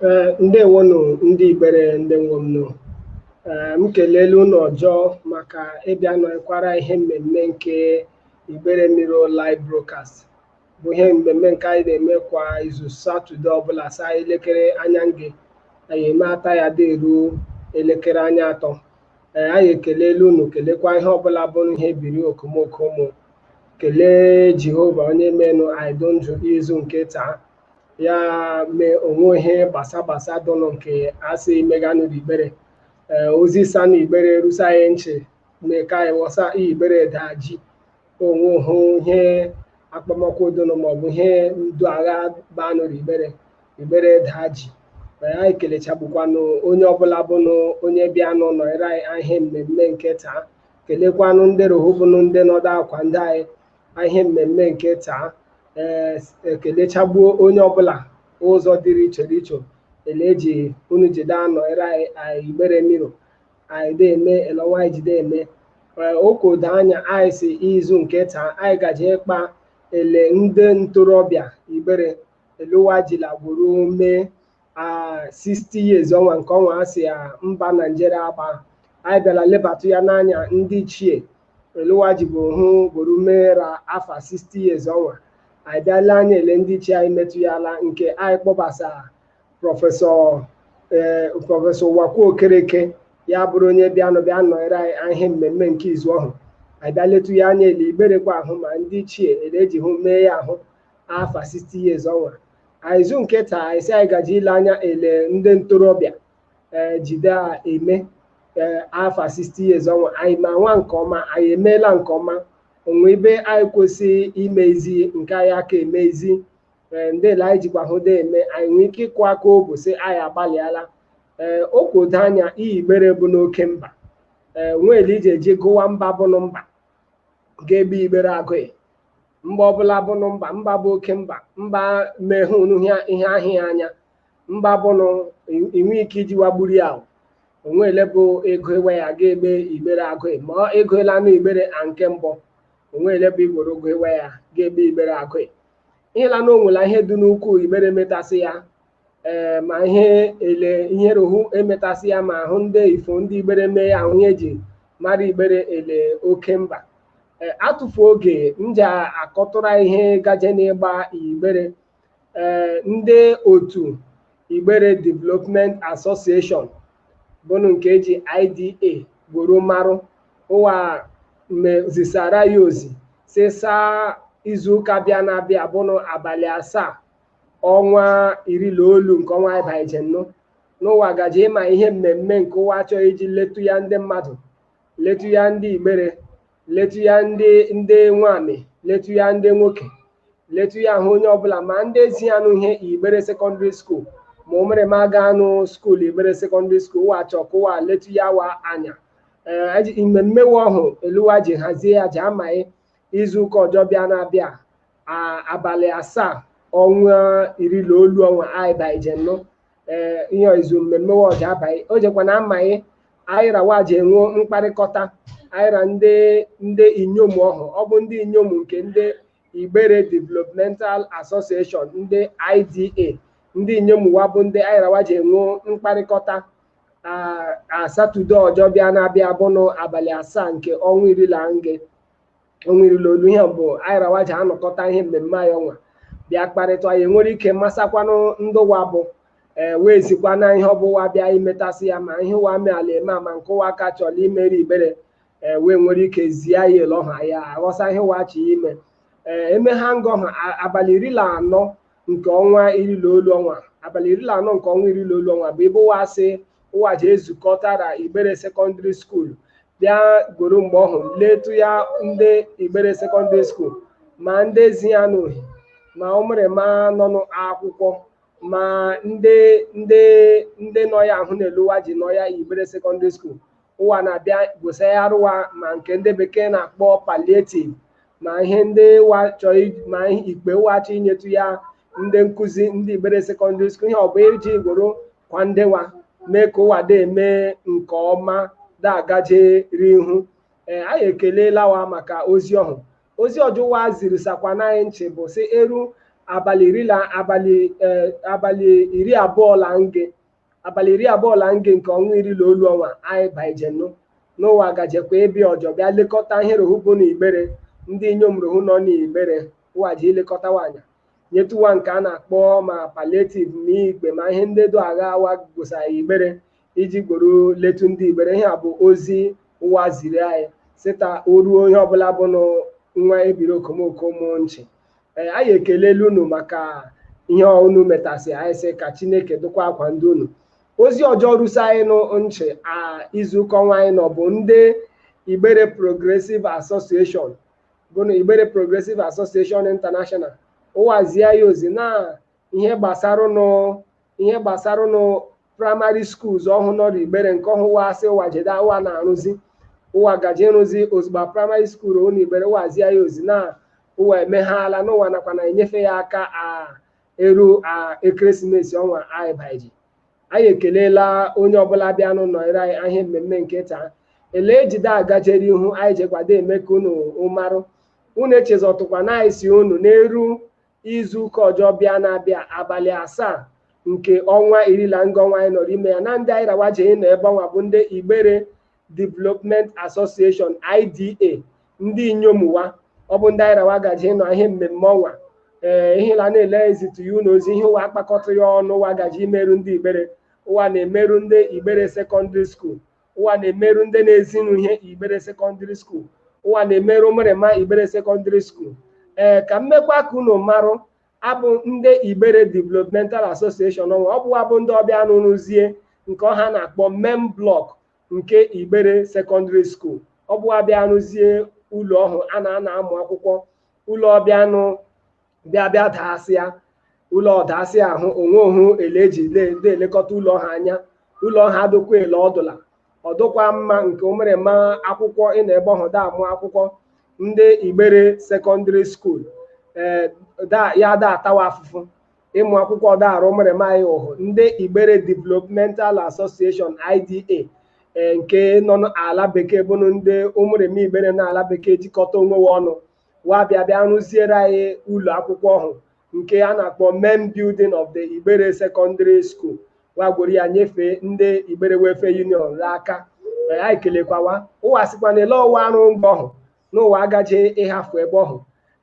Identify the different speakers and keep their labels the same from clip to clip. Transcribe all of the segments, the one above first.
Speaker 1: Ee, ndewonụ ndị Igbere ndị nwe m nụ. Ee, m kelele unu ọjọọ maka ịbịa nọkwara ihe mmemme nke Igbere Mirror Live Broadcast bụ ihe mmemme nke anyị na-eme kwa izu Satọde ọbụla saa elekere anya nge anyị eme ata ya dị eruo elekere anya atọ. Ee, anyị ekelele unu kelekwa ihe ọbụla bụ ihe biri okomoko ụmụ kelee Jehova onye menụ anyị dị ndụ izu nke taa ya mee o nwe ihe gbasa gbasa dụnụ nke asị meganụ igbere ee ozi sa na igbere rusa anyị nchị mee ka anyị wọsa igbere daa ji onwe hụ ihe akpọmọkụ dụnụ maọbụ ihe ndu agha banụ igbere igbere daa ji ee anyị kelechagbukwanụ onye ọbụla bụnụ onye bịanụ nọnyere anyị ihe mmemme nke taa kelekwanụ ndị rohu bụnụ ndị nọdụ akwa ndị anyị na ihe mmemme nke taa ee ekelechagbuo onye ọbụla ụzọ dịrị iche iche ele eji unu jide anọnyere anyị anyị igbere mirror anyị de eme elọnwa anyị jide eme Ee, o kodo anya anyị sị izu nke taa anyị gaje ịkpa ele ndị ntorobịa igbere ele ụwa jila gworo mee 60 years ọnwa nke ọnwa a sị ya mba naijiria agba anyị bịara lebatụ ya n'anya ndị ichie ele ụwa ji bụ hụ gworo meera afa 60 years ọnwa anyị bịa le anya ele ndị ichie anyị metụ ya ala nke anyị kpọbasa prọfesọ ee prọfesọ uwakwe okereke ya bụrụ onye bịanụ bịa nọnyere anyị ihe mmemme nke izu ọhụ anyị bịa letụ ya anya ele igberekwa ahụ ma ndị ichie ele eji hụ mee ya ahụ afa 60 years ọnwa A izu nke taa anyị sị anyị gaji ile anya ele ndị ntorobịa ee jide eme ee afa 60 years ọnwa anyị ma nwa nke ọma anyị emeela nke ọma o nwe ebe anyị kwesị imezi nke anyị aka emezi ee ndị ele anyị jikwa hụ dee eme anyị nwee ike ịkụ aka obu sị anyị agbalịala ee o kodo anya iyi igbere bụ n'oke mba ee nwe ele ije eji gụwa mba bụnụ mba ga ebe igbere agụghị mba ọbụla bụnụ mba mba bụ oke mba mba mehụnụ ihe- ihe ahịa ya anya mba bụnụ i- inwe ike iji wagburu ya ahụ o nwe ele bụ ịgụ ewe ya ga ebe igbere agụghị. ma ọ ego ele anụ igbere a nke mbụ o nwe ele bụ i gworo gụ ewe ya ga ebe igbere agụghị. ihe la na o nwela ihe dị n'ukwu igbere metasị ya ee ma ihe ele ihe rohu emetasị ya ma ahụ ndị ifo ndị igbere mee ya ahụ ihe eji mara igbere ele oke mba ee atụfu oge nja akọtụra ihe gaje n'ịgba igbere ee ndị otu igbere development association bụnụ nke eji IDA gworo marụ ụwa zisara ya ozi sị saa izuụka bịa na-abịa bụnụ abalị asaa ọnwa iri na olu nke ọnwa anyị baije nnụ n'ụwa gaje ịma ihe mmemme nke ụwa chọọ iji letu ya ndị mmadụ letu ya ndị igbere letu ya ndị nwamị letu ya ndị nwoke letu ya ahụ onye ọbụla ma ndị ezi anụ ihe igbere secondary school ma ụmụrịma aga anụ school igbere secondary school ụwa chọọ ka ụwa letu ya wa anya ee aji- mmemme wa ọhụ ele ụwa ji hazie ya ji amaghị izu ụka ọjọ bịa na-abịa abalị asaa ọnwa iri na olu ọnwa anyị baije nnụ ee ihe izu mmemme wa ọ ji abaghị o jekwa na amaghị anyị ra wa ji enwe mkparịkọta anyị ra ndị inyom ọhụ ọ bụ ndị inyom nke ndị igbere developmental association ndị ida ndị inyom wa bụ ndị anyị ra wa ji enwe mkparịkọta a satọde ọjọ bịa na-abịa bụnụ abalị asaa nke ọnwa iri na nge ọnwa iri la olu ihe mbụ anyị ra wa ji anọkọta ihe mmemme anyị ọnwa bịa kparịta anyị nwere ike masakwanụ ndị ụwa bụ ee wee zikwa na ihe ọ bụ ụwa bịa imetasị ya ma ihe ụwa meela eme ma nke ụwa ka chọrọ imeri igbere ee wee nwere ike zie ya ele ọha ya aghọsa ihe ụwa chi ime ee eme ha ngọ ha abalị iri na anọ nke ọnwa iri na olu ọnwa abalị iri na anọ nke ọnwa iri na olu ọnwa bụ ebe ụwa sị ụwa ji ezukọtara igbere secondary school bịa gworo mgbe ọhụ letu ya ndị igbere secondary school ma ndị ezi ya nụ ihe ma ụmụrịma nọ n'akwụkwọ ma ndị ndị ndị nọ ya ahụ na-eluwa ji nọ ya igbere secondary school ụwa na-abịa gwosa ya arụwa ma nke ndị bekee na-akpọ palliative ma ihe ndị ụwa chọọ iji- ma ihe ikpe ụwa chọọ inyetu ya ndị nkụzi ndị igbere secondary school ihe ọ bụ iji gworo kwa ndị wa mee ka ụwa dị eme nke ọma da agajeri ihu ee anyị ekelela wa maka ozi ọhụ ozi ọjọ ụwa ziri sakwa n'anyị nchị bụ sị eru abalị iri la abalị eh, abalị iri abụọ la nge abalị iri abụọ la nge nke ọnwa iri la olu ọnwa anyị baije nnụ n'ụwa gajekwa ịbịa ọjọ bịa lekọta ihe rohu bụ na igbere ndị inyom rohu nọ n'igbere ụwa ji ilekọta wa anya nyetu wa nke a na-akpọ ma palliative ma igbe ma ihe ndị do agha awa gwosa igbere iji gworo letu ndị igbere ihe a bụ ozi ụwa ziri anyị sịta o ruo onye ọbụla bụ nwa ebiri okomoko mụọ nchị Ee, anyị ekelela unu maka ihe a unu metasị anyị sị ka chineke dụkwa akwa ndị unu ozi ọjọ rusa anyị nụ nchị a izuụka ọnwa anyị nọ bụ ndị igbere progressive association bụ na igbere progressive association international ụwazie ya ozi na ihe gbasara nụ ihe gbasaranụ primary schools ọhụ nọrọ Igbere nke ọhụ wa asị ụwa jede ụwa na-arụzi ụwa gaje ịrụzi ozugbo primary school n'Igbere ụwa zie ya ozi na ụwa emeghala n'ụwa nakwa na enyefe ya aka a eru a ekeresimesi ọnwa anyị baiji anyị ekelela onye ọbụla bịanụ nọnyere anyị ihe mmemme nke taa ele ejide agajere ihu anyị jekwado eme ka unu marụ unu echezọtụkwa na anyị sị unu n'eru izu ụka ọjọ bịa na-abịa abalị asaa nke ọnwa iri na nga ọnwa anyị nọrọ ime ya na ndị anyị rawa ji ịnọ ebe ọnwa bụ ndị Igbere Development Association IDA ndị inyom ụwa ọ bụ ndị anyị rawa gaji ịnọ ihe mmemme ọnwa ee ihe la na-ele ezitu ya unu ozi ihe ụwa akpakọta ya ọnụ ụwa gaji imerụ ndị Igbere ụwa na-emerụ ndị Igbere Secondary School ụwa na-emerụ ndị na-ezinụ ihe Igbere Secondary School ụwa na-emerụ ụmụrịma Igbere Secondary School ee ka mmekwa ka unu marụ abụ ndị Igbere Developmental Association ọnwa ọ bụ wa bụ ndị ọ bịanụ rụzie nke ọhụ a na-akpọ main block nke Igbere Secondary School ọ bụ wa bịa rụzie ụlọ ọhụ a na-anọ amụ akwụkwọ ụlọ ọ bịanụ bịa bịa daasịa ụlọ ọdaasị ahụ o nwehu ele eji de elekọta ụlọ ọhụ anya ụlọ ọhụ adụkwa ele ọdụla ọdụkwa mma nke ụmụrịma akwụkwọ ịnọ ebe ọhụ da amụ akwụkwọ ndị Igbere Secondary School ee ya da atawa afụfụ ịmụ akwụkwọ ọda arụ ụmụrịma anyị ụhụ ndị Igbere Developmental Association IDA nke nọ n'ala bekee bụnụ ndị ụmụrịma Igbere n'ala bekee jikọta onwe ha ọnụ wa bịa bịa rụziere anyị ụlọ akwụkwọ ọhụ nke a na-akpọ main building of the Igbere Secondary School wa gworo ya nyefee ndị Igbere Welfare Union n'aka anyị kelekwawa ụwa sikwa na ele ụwa arụ nga ọhụ n'ụwa agaje ịhafụ ebe ọhụ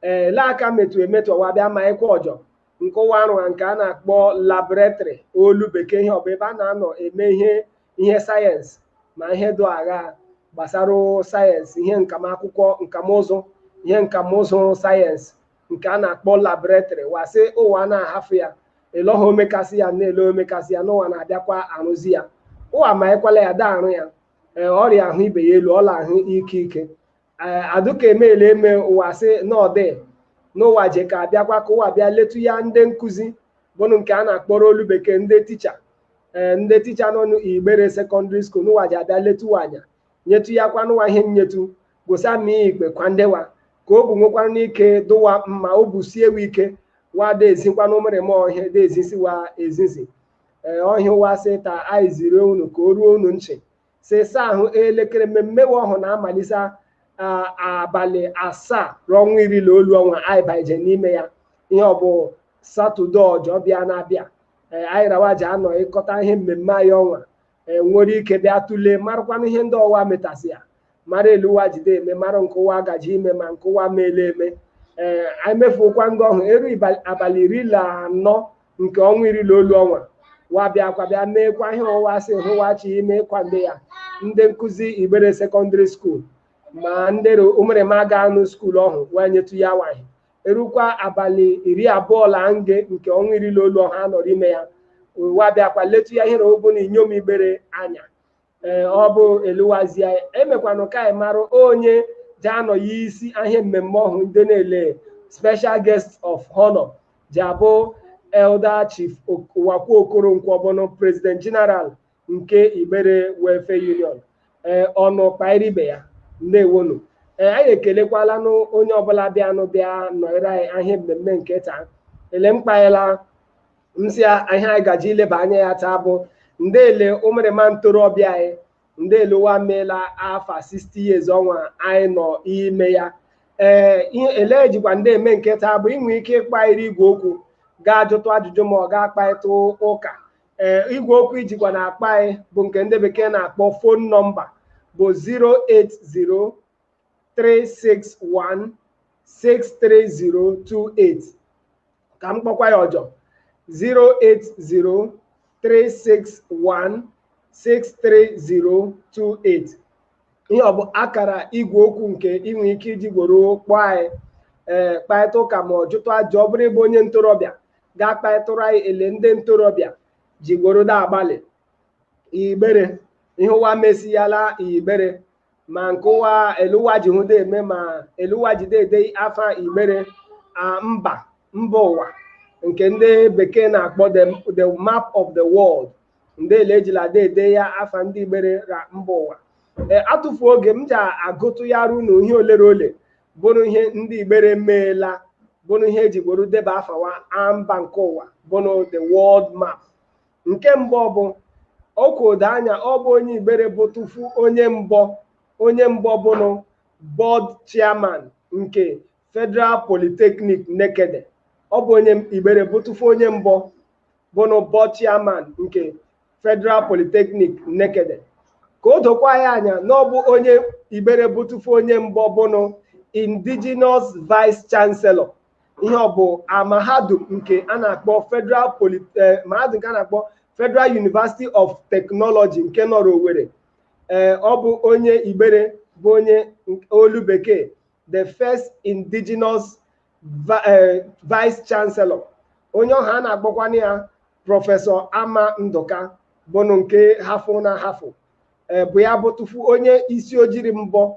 Speaker 1: ee ele aka metụ emetụ ụwa bịa ma ịkwa ọjọ nke ụwa arụa nke a na-akpọ laboratory olu bekee ihe ọ bụ ebe a na-anọ eme ihe ihe sayensị na ihe dị agha gbasara sayensị ihe nkam akwụkwọ nkamụzụ ihe nkamụzụ sayensị nke a na-akpọ laboratory wa sị ụwa na-ahafụ ya ele ọha omekasị ya na-ele omekasị ya n'ụwa na-abịakwa arụzi ya ụwa ma ekwela ya da arụ ya ee ọrịa ahụ ibe ya elu ọla ahụ ike ike adụka emeela eme ụwa sị n'ọdị n'ụwa je ka abịakwa ka ụwa bịa letu ya ndị nkụzi bụnụ nke a na-akpọrọ olu bekee ndị ticha ee ndị ticha nọ n'Igbere Secondary School n'ụwa ji abịa letu wa anya nyetu ya kwa n'ụwa ihe nyetu gosa ma ikpe kwa ndewa ka obu nwekwara n'ike dụ wa mma obu sie wa ike wa da ezikwanụ ụmụrịma ọhụ ihe da ezisi wa ezizi ee ọ ihe ụwa sị ta anyị ziri unu ka o ruo unu nchị sịsa ahụ elekere mmemme ọhụ na-amalite abalị asaa ra ọnwa iri na olu ọnwa anyị baije n'ime ya ihe ọ bụ satọde ọjọ bịa na-abịa anyị rawaji anọ ịkọta ihe mmemme anyị ọnwa nwere ike bịa tụlee marakwana ihe ndị ụwa metasị ya mara ele ụwa jide eme mara nke ụwa gaji ime ma nke ụwa meele eme ee anyị mefukwa ndị ọhụ eru abalị iri na anọ nke ọnwa iri na olu ọnwa wa bịakwa bịa meekwa ihe ụwa sị hụwachi ime ịkwado ya ndị nkụzi igbere secondary school ma ndị ụmụrịma ga-anụ school ọhụ wee nyetụ ya nwaanyị erukwa abalị iri abụọ la nge nke ọnwa iri na olu ọha nọrọ ime ya wa bịakwa letu ya ihere obu na inyom igbere anya ee ọ bụ eluwazie emekwanụ ka anyị mara onye ji anọ ya isi ahịa mmemme ọhụ ndị na-ele special guest of honor ji abụ elder chief uwakwe okoronkwo bụnụ president general nke igbere welfare union ee ọnụ kpairi ibe ya ndewonu ee anyị ekelekwalanụ onye ọbụla bịanụ bịa nọrọ anyị ahịa mmemme nke taa ele m kpaela m sị ya ihe anyị gaji ileba anya ya taa bụ ndị ele ụmụrịma ntorobịa anyị ndị ele ụwa meela afa 60 years ọnwa anyị nọ ime ya ee ihe ele jikwa ndị eme nke taa bụ ị nwe ike ịkpọ anyị ra igwe okwu ga-ajụtụ ajụjụ ma ọ ga-akparịta ụka ee igwe okwu ị jikwa na-akpọ anyị bụ nke ndị bekee na-akpọ phone number bụ 361 63028 ka m kpọkwa ya ọjọ 080 361 63028 ihe ọ bụ akara igwe okwu nke ị nwere ike iji gworo kpọọ anyị ee kparịta ụka ma ọ jụtụ ajụ ọ bụrụ ị bụ onye ntorobịa gaa kparịtụrụ anyị ele ndị ntorobịa ji gworo da agbalị igbere ihe ụwa mesiyala igbere ma nke ụwa ele ụwa ji hụda eme ma ele ụwa jide ede afa igbere a mba mba ụwa nke ndị bekee na-akpọ the map of the world ndị ele ejila ada ede ya afa ndị igbere ra mba ụwa ee atụfu oge m ji agụtụyara unu ihe olere ole bụrụ ihe ndị igbere meela bụrụ ihe eji gworo deba afa wa a mba nke ụwa bụrụ the world map nke mbụ bụ ọkwa o do anya ọ bụ onye igbere bụ tụfu onye mbọ onye mbọ bụnụ board chairman nke federal polytechnic nekede ọ bụ onye igbere bụ tụfu onye mbọ bụnụ board chairman nke federal polytechnic nekede ka o dokwa ya anya na ọ bụ onye igbere bụ tụfu onye mbọ bụnụ indigenous vice chancellor ihe ọ bụ a mahadum nke a na-akpọ Federal Poly eh, mahadum nke a na-akpọ Federal University of Technology nke nọrọ Owerri ee ọ bụ onye Igbere bụ onye nk- olu bekee the first indigenous vi- eh, vice chancellor onye ọhụ a na-akpọkwanụ ya prọfesọ Amagh Ndụka bụnụ nke hafụnụ ahafụ ee bụ ya bụtụfu onye isi ojiri mbọ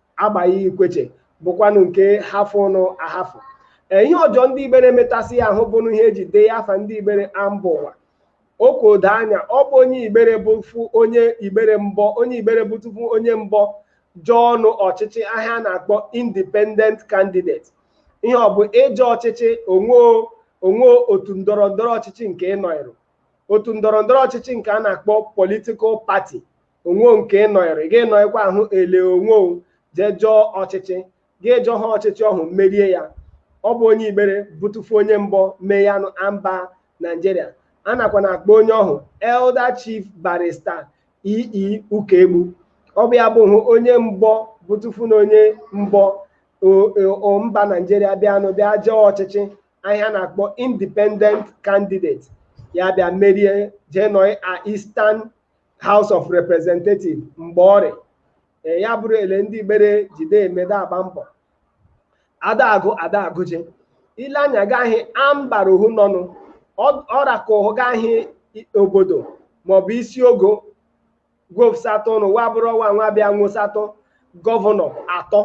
Speaker 1: Agbai Ikwechegh bụkwanụ nke hafụnụ ahafụ ee ihe ọjọ ndị igbere metasị ya ahụ bụnụ ihe eji dee afa ndị igbere a mba ụwa oke odo anya ọ bụ onye igbere bụfụ onye igbere mbọ onye igbere bụtụfu onye mbọ jọọnụ ọchịchị ahụ a na-akpọ independent candidate ihe ọ bụ ịjọ ọchịchị o o nwoo otu ndọrọ ndọrọ ọchịchị nke ị nọịrụ otu ndọrọ ndọrọ ọchịchị nke a na-akpọ political party o nwoo nke ị nọịrụ gị nọịkwa ahụ ele onwe jee jọọ ọchịchị gị jọ ha ọchịchị ọhụ merie ya ọ bụ onye igbere bụtụfu onye mbọ mee yanụ a mba naijiria a nakwa na-akpọ onye ọhụ elder chief barrister E. E. Ukaegbu ọ bụ ya bụfụ onye mbọ bụtụfunụ onye mbọ mba naijiria bịanụ bịa jọọ ọchịchị ahụ a na-akpọ independent candidate ya bịa merie jee nọị a eastern House of Representative mgbe ọrị ee ya bụrụ ele ndị igbere jide emede agba mbọ adaagụ adaagụji ile anya ga-ahị a mbara ohu nọnụ ọra ka ụhụ ga-ahị obodo maọbụ isi ogo gwopsatọ ụnụ wa bụrụ ọwa nwa bịa nwụsatọ gọvanọ atọ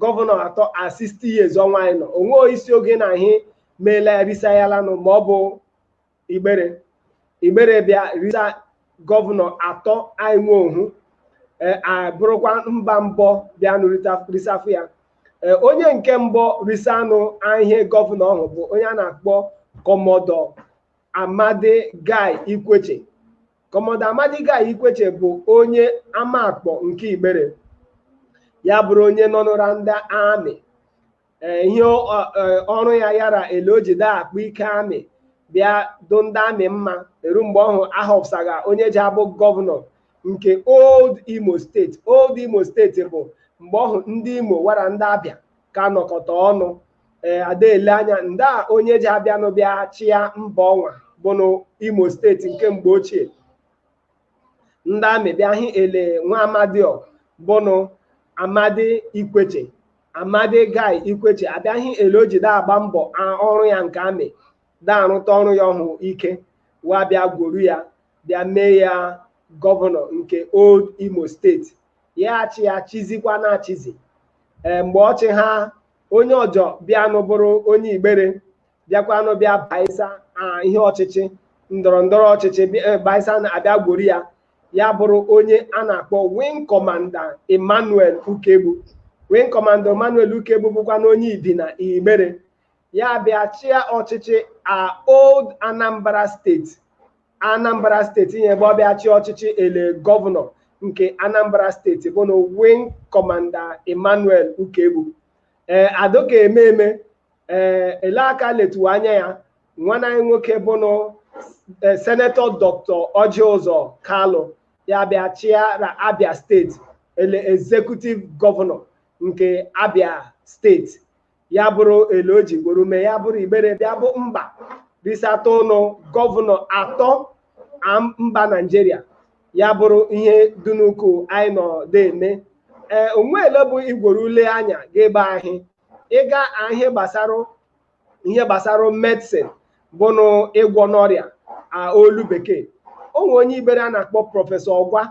Speaker 1: gọvanọ atọ a 60 years ọnwa anyị nọ o nwoo isi ogo na ahị meela erisayalanụ ma ọ bụ igbere igbere bịa risa gọvanọ atọ anyị nwe ohu e, abụrụkwa mba mbọ bịanụ rita- risafụ ya E, onye nke mbọ risanụ ihe gọvanọ ọhụ bụ onye a na-akpọ kọmọdọ Amadi Guy Ikwechegh kọmọdọ Amadi Guy Ikwechegh bụ onye Amakpọ nke igbere ya bụrụ onye nọnụ ra ndị amị ee ihe ọ- ọ- ee, ọrụ ya yara ele o jide akpụ ike amị bịa dụ ndị amị mma eru mgbe ọhụ a họpụsaga onye ji abụ gọvanọ nke old imo steeti old imo steeti bụ mgbe ọhụ ndị imo wa ra ndị abịa ka nọkọta ọnụ ee a da-ele anya ndị a onye ji abịanụ bịa chịa mba ọnwa bụnụ imo steeti nke mgbe ochie ndị amị bịa hị ele nwa amadi ọ bụnụ amadi ikwechegh amadi guy ikwechegh abịaghị ele o ji da-agba mbọ a- ọrụ ya nke amị da-arụta ọrụ ya ọhụ ike wa bịa gwuru ya bịa mee ya gọvanọ nke old imo steeti ya achị ya chizikwa na-achịzi ee mgbe ọchị ha onye ọjọ bịanụ bụrụ onye igbere bịakwanụ bịa baisa ah, ihe ọchịchị ndọrọ ndọrọ ọchịchị bịa- eh, baisa na abịa gworo ya ya bụrụ onye a na-akpọ wing commander emmanuel ukegbu wing commander emmanuel ukegbu bụkwanụ onye ibina igbere ya bịa chịa ọchịchị a old anambra steeti anambra steeti ihe ebe ọ bịa chịa ọchịchị ele gọvanọ nke anambra steeti bụnụ wing commander emmanuel ukegbu ee adoka eme eme ee ele aka letuwa anya ya nwanna anyị nwoke bụnụ ee, senetọ dọkịta ọjị ụzọ kalụ ya bịa chịara abia steeti ele ezekutiv gọvanọ nke abia steeti ya bụrụ ele o ji gworo mee ya bụrụ igbere bịa bụ mba risatanụ gọvanọ atọ am- mba naijiria ya bụrụ ihe dị nnukwu anyị nọde eme ee o nweele bụ i gworo le anya ga ebe ahị ịga ihe gbasara ihe gbasara medsin bụnụ ịgwọ n'ọrịa olu bekee o nwere onye igbere a na-akpọ prọfesọ ụgwa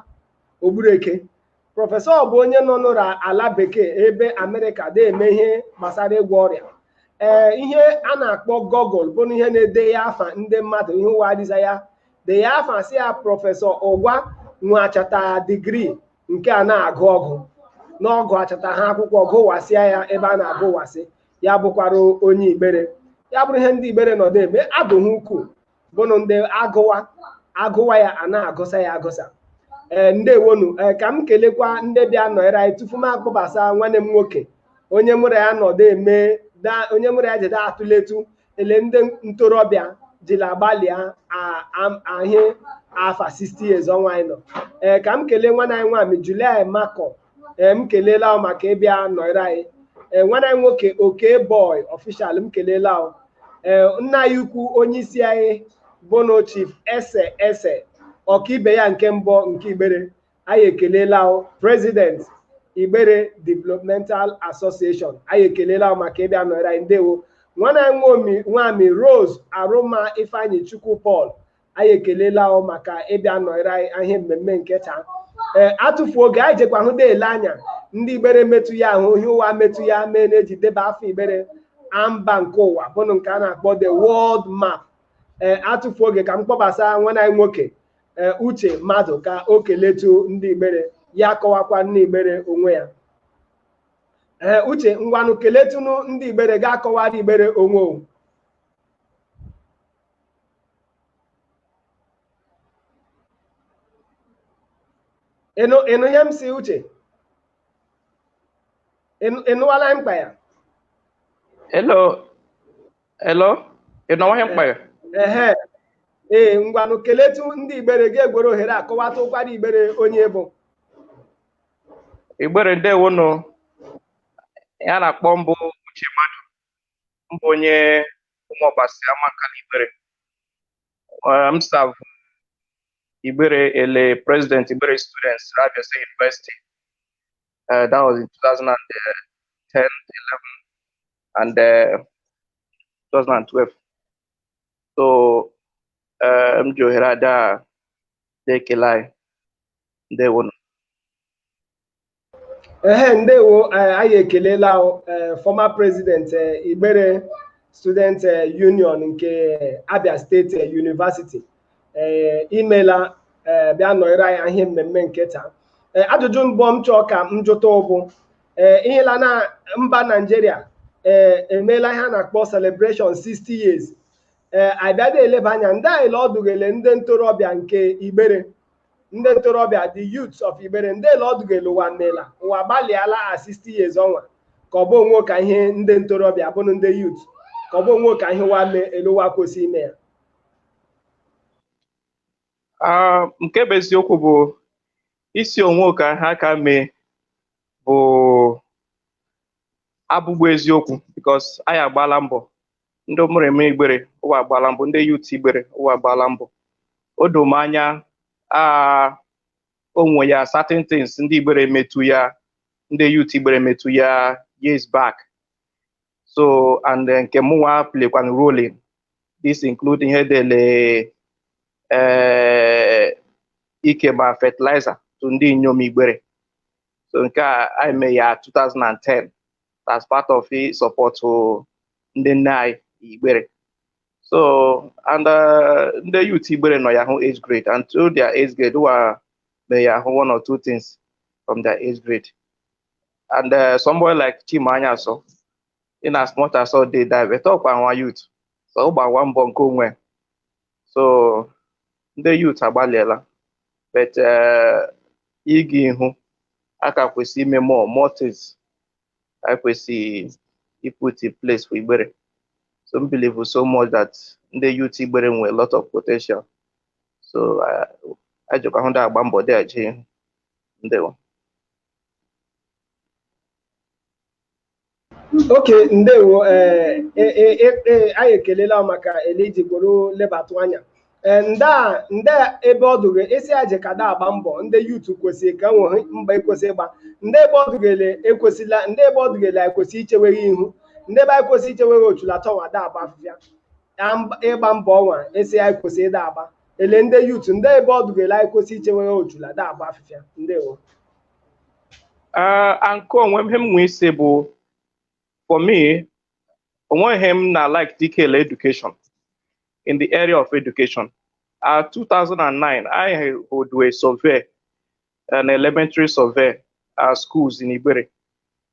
Speaker 1: ogbureke prọfesọ bụ onye nọ n'ụra ala bekee ebe amerịka na-eme ihe gbasara ịgwọ ọrịa ee ihe a na-akpọ google bụnụ ihe na-ede ya afa ndị mmadụ ihe ụwa adịza ya de ya afa sị ya prọfesọ ụgwa nwachata digrii nke a na-agụ ọgụ n'ọgụ achata ha akwụkwọ gụwasịa ya ebe a na-agụwasị ya bụkwara onye igbere ya bụrụ ihe ndị igbere nọdụ eme adụ ha ukwuu bụnụ ndị agụwa agụwa ya a na-agụsa ya agụsa ee ndewonu ee ka m kelekwa ndị bịa nọnyere anyị tupu m akpọbasa nwanne m nwoke onye mụrụ ya nọdụ eme da- onye mụrụ ya jede atụletu ele ndị ntorobịa jila agbalịa ahị afa 60 years ọnwa anyị nọ ee ka m kelee nwanna anyị nwami July Makọ ee m keleela ọ maka ịbịa nọrọ anyị ee nwanna anyị nwoke oke boy official m keleela ọ ee nna anyị ukwu onye isi anyị bụnụ chief ese ese ọkaibe ya nke mbụ nke igbere anyị ekelela president Igbere Developmental Association anyị ekelela maka ịbịa nọrọ anyị ndewo nwanna anyị nwami Rose Arụma Ifeanyichukwu Paul anyị ekelela maka ịbịa nọrọ anyị ihe mmemme nke taa ee atụfu oge anyị jekwa hụ ele anya ndị Igbere metụ ya ahụ ihe ụwa metụ ya mee na-eji deba afa Igbere amba nke ụwa bụnụ nke a na-akpọ the world map ee atụfu oge ka m kpọbasa nwanna anyị nwoke e, uche mmadụ ka o keletu ndị igbere ya kọwakwa ndị igbere onwe ya ee uche ngwanụ keletunu ndị igbere ga-akọwara igbere onwe o ị nụ ị nụ ihe m si uche ị nụwala m kpa ya
Speaker 2: Hello, Hello? Ị nụwaghị m kpa ya? ehe ee
Speaker 1: ngwanụ keletu ndị igbere gị egwere ohere a kọwatụkwara igbere onye bụ
Speaker 2: Igbere ndewonụ. Ya na-akpọ m bụ Uche Mmadụ. M bụ onye Ụmụọbasi Amankalu Igbere. Eh, M serve Igbere ele President Igbere Students Abia State University. Eh, That was in 2010, 11. and uh, 2012 so uh, m ji ohere ada na-ekele anyị ndewonu
Speaker 1: ehe ndewo eh, anyị ekelela eh, former president eh, Igbere student eh, union nke Abia State eh, University ee eh, imela ee eh, bịa nọnyere anyị ihe mmemme nke taa ee eh, ajụjụ mbụ m chọọ ka m jụtụ bụ ee ihela na mba naijiria ee emeela ihe a na-akpọ celebration 60 years ee abịada eleba anya ndele ọ dụ gị ele ndị ntorobịa nke igbere ndị ntorobịa the youths of igbere ndele ọ dụ gị ele ụwa mela ụwa gbalịala a 60 years ọnwa ka ọ bụ o nweka ihe ndị ntorobịa bụrụ ndị youth ka ọ bụ o nweka ihe ụwa mee ele ụwa kwesị ime ya
Speaker 2: Ah, nke bụ eziokwu bụ ị sị o nweka ha ka mee bụ abụgbụ eziokwu because anyị agbaala mbọ ndị mụrụ eme igbere ụwa agbaala mbọ ndị youth igbere ụwa agbaala mbọ o doo m anya ah, o nwe ya certain things ndị igbere metụ ya ndị youth igbere metụ ya years back so and eh, nke mụnwa playkwa role in these include ihe dị ele eh, ikeba fertilizer to ndị inyom igbere so nke a anyị mee ya 2010 as part of i support to ndị nne anyị igbere so and eh, ndị youth igbere nọ ya hụ age grade and through their age grade wa mee ya hụ one or two things from their age grade and uh, somebody like Chima Anyaso in as much as ọ dede anyị but ọkwa nwa youth so ọ gbawa mbọ nke onwe so ndị youth agbalịela but uh, ịga ihu a ka kwesị ime more more things anyị kwesị ị put in place for Igbere so m believe so much that ndị youth Igbere nwere a lot of potential so uh, ajọkwa ha dị agba mbọ dị aje ihu ndewo
Speaker 1: okay ndewo eh, eh, eh, anyị ekelela maka ele i ji kwuru lebatụ anya nda nda ebe ọ dụ gị esi aje ka da agba mbọ ndị youth kwesịrị ka e nwere mbọ ekwesị ịgba ndị ebe ọ dụ gị ele ekwesịla ndị ebe ọ dụ gị ele ekwesị icheweghe ihu ndị ebe anyị kwesị icheweghe ochulata ọnwa da agba afịfịa ịgba mbọ ọnwa esi anyị kwesị ịda agba ele ndị youth ndị ebe ọ dụ gị ele anyị kwesị ichewere ojula da agba afịfịa
Speaker 2: ndewo Ah, nke onwe m ihe m nwee isi bụ for me o nweghị ihe m na like dị ka ele education in the area of education uh, 2009 anyị hoduo survey na elementary survey uh, schools in Igbere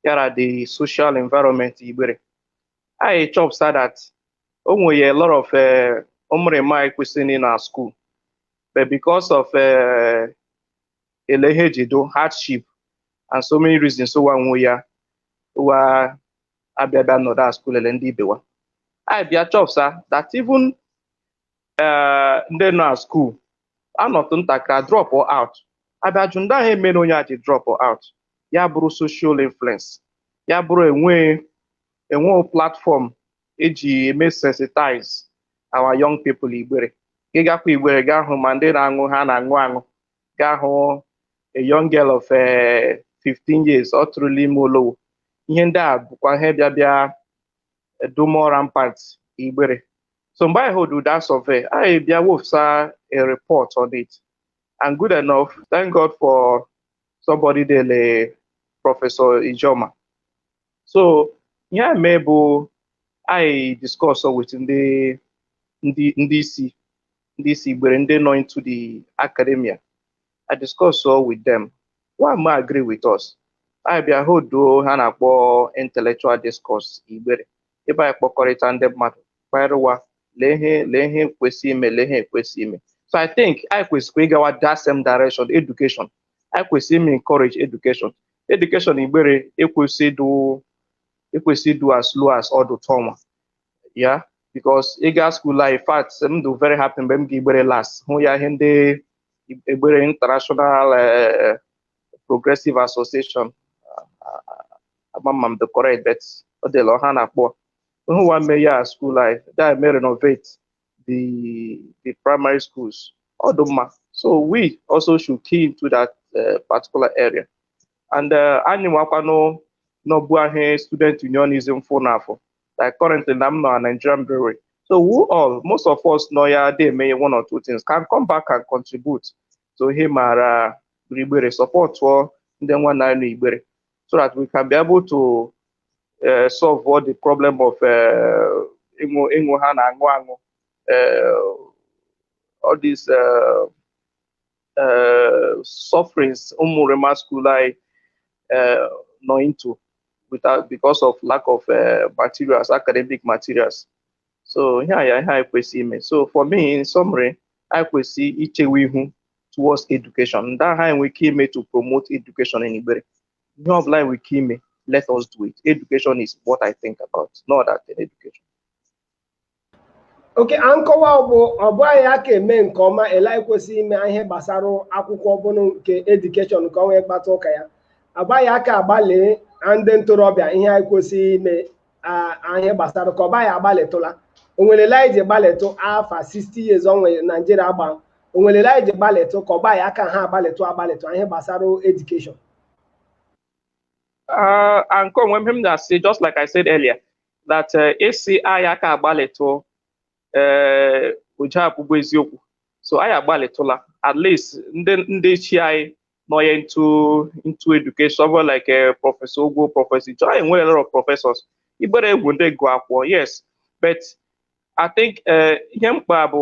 Speaker 2: yara the social environment Igbere anyị chọpụta that o nwere a lot of eh, ụmụrịma anyị kwesị ịnọ na school but because of eh, ele ihe eji dụ hardship and so many reasons ụwa nwe ya ụwa abịa bịa nọdụ a school ele ndị ibe wa anyị bịa chọpụta that even eh, ndị nọ na school anọtụ ntakịrị a drop out abịa jụ ndị ahụ ihe mere onye a ji drop out ya bụrụ social influence ya bụrụ enwe enwe platform eji eme sensitize our young people igbere gị gakwa igbere ga-ahụ ma ndị na-aṅụ ihe a na-aṅụ aṅụ ga-ahụ a young girl of eh, 15 years ọ tụrụla ime olowo ihe ndị a bụkwa ihe bịa bịa dụ more rampant igbere so mgbe anyị hold that survey anyị bịa wefụsa a report on it and good enough thank god for somebody dị ele professor ijoma so ihe a mee bụ anyị discuss with ndị ndị ndị isi ndị isi igbere ndị nọ into the academia anyị discussụọ with them wa ma agree with us anyị bịa hoduo ihe a na-akpọ intellectual discourse igbere ebe anyị kpọkọrịta ndị mmadụ kparịwa lee ihe lee ihe kwesị ime lee ihe ekwesị ime so I think anyị kwesịkwa ịgawa that same direction education anyị kwesịrị ime encourage education education igbere ekwesị ịdụ ekwesị ịdụ as low as ọdụ taa ọnwa yeah because ị ga school life in fact m dị very happy mgbe m ga igbere last hụ ya ihe ndị Igbere international eh, progressive association ama ma m dị correct but ọ dịla ọha na-akpọ hụ wa mee ya school life dị eme renovate the the primary schools. Ọ dụ mma. So we also should key into that uh, particular area. And uh, anyị nwakwanụ nọbu ahụ student unionism fụ n'afọ like currently na m nọ na Nigerian brewery. So we all, most of us nọ ya dị eme one or two things can come back and contribute to ihe maara Igbere supportụọ ndị nwa na Igbere. so that we can be able to uh, solve all the problem of uh, ịṅụ ịṅụ ha na aṅụ aṅụ uh, all these uh, uh, sufferings ụmụrịma school anyị uh, nọ into without because of lack of uh, materials academic materials so ihe a ya ihe anyị kwesịrị ime so for me in summary anyị kwesịrị ichewe ihu towards education ndị ahụ anyị nwere ike ime to promote education in Igbere ihe ọ bụla anyị nwere ike ime let us do it education is what I think about no other than
Speaker 1: education okay a nkọwa ọ bụ ọ bụ anyị aka eme nke ọma ele anyị kwesịrị ime ihe gbasara akwụkwọ ọ bụrụ nke edukeshọn nke ọnwa ị kpata ụka ya ọ bụ anyị aka agbalị na ndị ntorobịa ihe anyị kwesịrị ime n'ihe gbasara ka ọ bụ anyị agbalịtụla onwere ele anyị ji gbalịtụ afọ 60 years ọnwa naijiria gba onwere ele anyị ji gbalịtụ ka ọ bụ anyị aka ha agbalịtụ agbalịtụ n'ihe gbasara
Speaker 2: edukeshọn Uh, and ka onwe ihe m ja asị, just like I said earlier, that uh, a sị anyị aka agbalịtụ ee eh, o je abụghụ eziokwu so anyị agbalịtụla at least ndị ndị ichie anyị nọnye into into education ọ like a eh, prọfesọ Ogwo prọfesọ Ijo anyị nwere a lot of professors igbere wụ ndị gụ akwụkwọ yes but I think eh, ihe mkpa bụ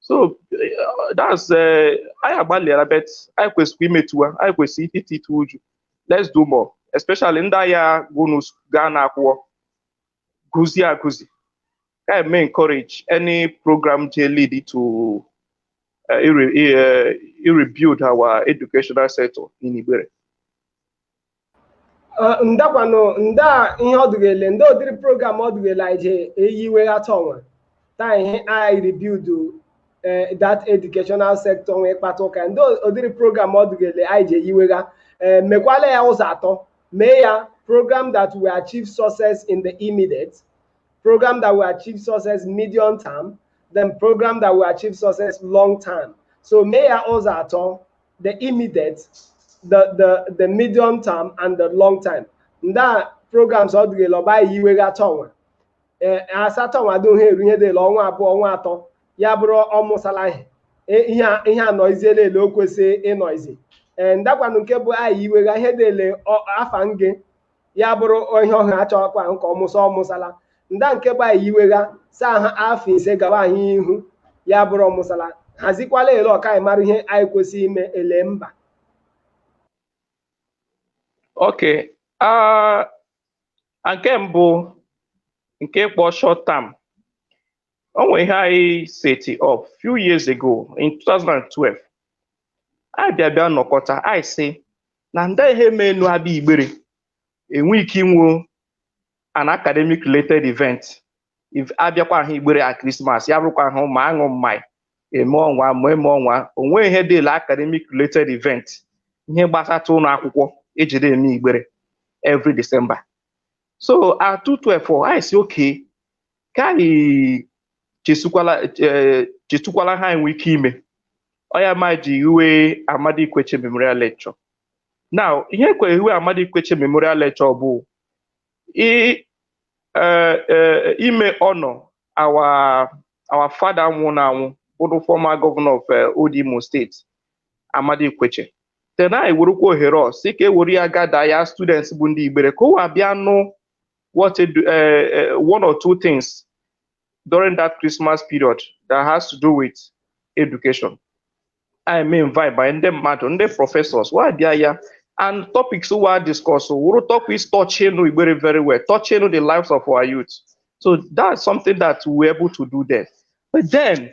Speaker 2: so uh, that's uh, anyị agbalịara but anyị kwesịrị imetuwa anyị kwesịrị iti itu uju let's do more especially ndị agha gụnụ gaa na akwụkwọ gụzie agụzi ka eme encourage any program je lead to uh, ire- uh, rebuild our educational sector in Igbere
Speaker 1: ndakwanụ nda ihe ọdụghele ndị ụdịrị program ọdụghele anyị je eyiwegha taa ọnwa taa ihe anyị rebuild that educational sector ọnwa ị kpata ụka ndị ụdịrị program ọdụghele anyị je eyiwegha mekwala ya ụzọ atọ mee ya program that will achieve success in the immediate program that will achieve success medium term then program that will achieve success long term so mee ya ụzọ atọ the immediate the the the medium term and the long term nda programs ọ dịghị la ọ bụ anyị iwegha taa ọnwa ee a sa taa ọnwa dị ihe eru ihe dịla ọnwa abụọ ọnwa atọ ya bụrụ ọmụsala ihe E- ihe a- ihe anọiziela ele o kwesị ịnọizi ee ndakwanụ nke bụ anyị iwegha ihe dịle afọ nge ya bụrụ ihe ọhụ a chọkwa ahụ ka ọmụsa ọmụsala nda nke bụ anyị iwegha saa ha afọ ise gawa anyị ihu ya bụrụ ọmụsala hazikwala ele ọ ka anyị mara ihe anyị kwesịrị ime ele
Speaker 2: mba okay nke mbụ nke ị kpọ short term o nwere ihe anyị set up few years ago in 2012 anyị bịa bịa nọkọta anyị sị na ndị ihe mee enu abịa igbere enwe ike inwe an academic related event If abịakwa ahụ igbere at Christmas ya bụrụkwa ahụ ma aṅụ mmanya eme ọnwa ma eme ọnwa o nweghị ihe dịla academic related event ihe gbasata ụlọ akwụkwọ ejide eme igbere every December so at 2012 anyị sị okay ka anyị chesukwala eh, chesukwala ihe anyị nwe ike ime ọ ya ma ji hiwe amadi Ikwechegh memorial lecture now ihe kwe ehiwe amadi Ikwechegh memorial lecture bụ i- eh, eh, ime honor our our father nwụrụ anwụ bụrụ former governor of eh, old Imo steeti amadi Ikwechegh then anyị werukwa ohere ọ sị ka e were ya gather ya students bụ ndị igbere ka wa bịa nụ what a, uh, uh, one or two things during that Christmas period that has to do with education. eme invite ba ndị mmadụ ndị professors wa bịa ya and topics wa discuss wụrụ topics touching Igbere very well, touching the lives of our youth. So that's something that we were able to do there. But then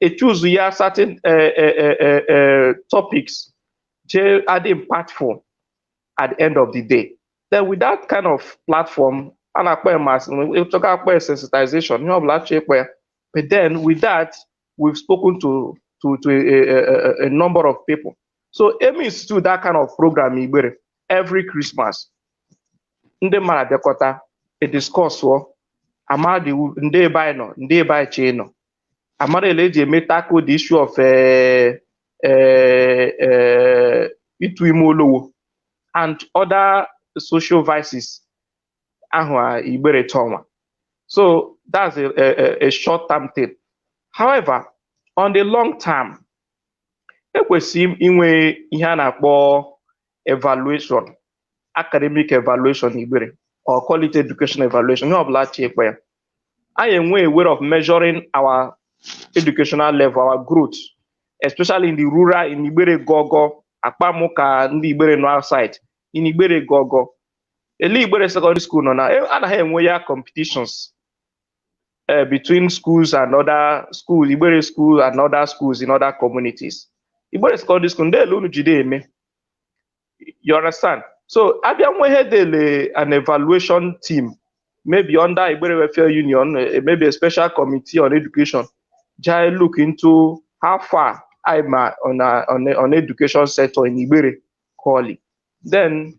Speaker 2: e choose ya certain eh, eh, eh, eh, eh, topics je adị impactful at the end of the day then with that kind of platform a na-akpọ ya mass ị chọga akpọ ya sensitization ihe ọbụla achọ ịkpọ ya but then with that we've spoken to to to a, a, a, a number of people so eme institute that kind of program igbere every christmas ndị mmadụ abịakọta ediscussọ amadị ndị ebe anyị nọ ndị ebe anyị chee nọ amara ele eji eme tackle the issue of eh, eh, eh, ịtụ ime olowo and other social vices ahụ a igbere taa ọnwa so that's a, a, a- a short term thing however on the long term ekwesịrị inwe ihe a na-akpọ evaluation academic evaluation igbere or quality education evaluation ihe ọbụla a chọ ịkpọ ya anyị enwe a way of measuring our educational level our growth especially in the rural in igbere gogo akpamụ ka ndị igbere nọ outside in igbere gogo ele igbere secondary school nọ na e, anaghị enwe ya competitions uh, between schools and other schools, Igbere school and other schools in other communities. Igbere secondary school, ndị ele unu jide eme. You understand? So abịa nwe ihe dele an evaluation team, maybe under Igbere Welfare Union, eh, maybe a special committee on education, jai look into how far I'm uh, on, uh, on, on education sector in Igbere, Koli. Then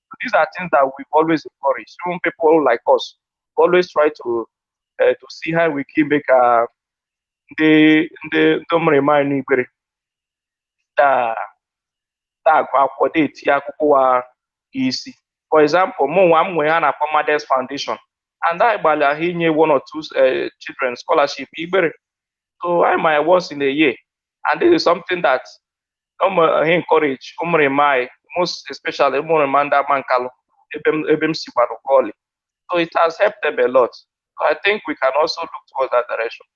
Speaker 2: So these are things that we've always encouraged. Even people like us always try to uh, to see how we can make uh, the the the remind Igbere that that akwụkwọ that akwụkwọ wụ isi. For example, mụ nwa m nwere ihe a na-akpọ Mothers Foundation and a gbalịa inye one or two uh, children scholarship Igbere. So anyị mee ya once in a year and this is something that ụmụ he encourage ụmụrịma anyị most especially ụmụrịma ndị Amankalu ebe m ebe m si gbara bọọlụ so it has helped them a lot so i think we can also look towards that direction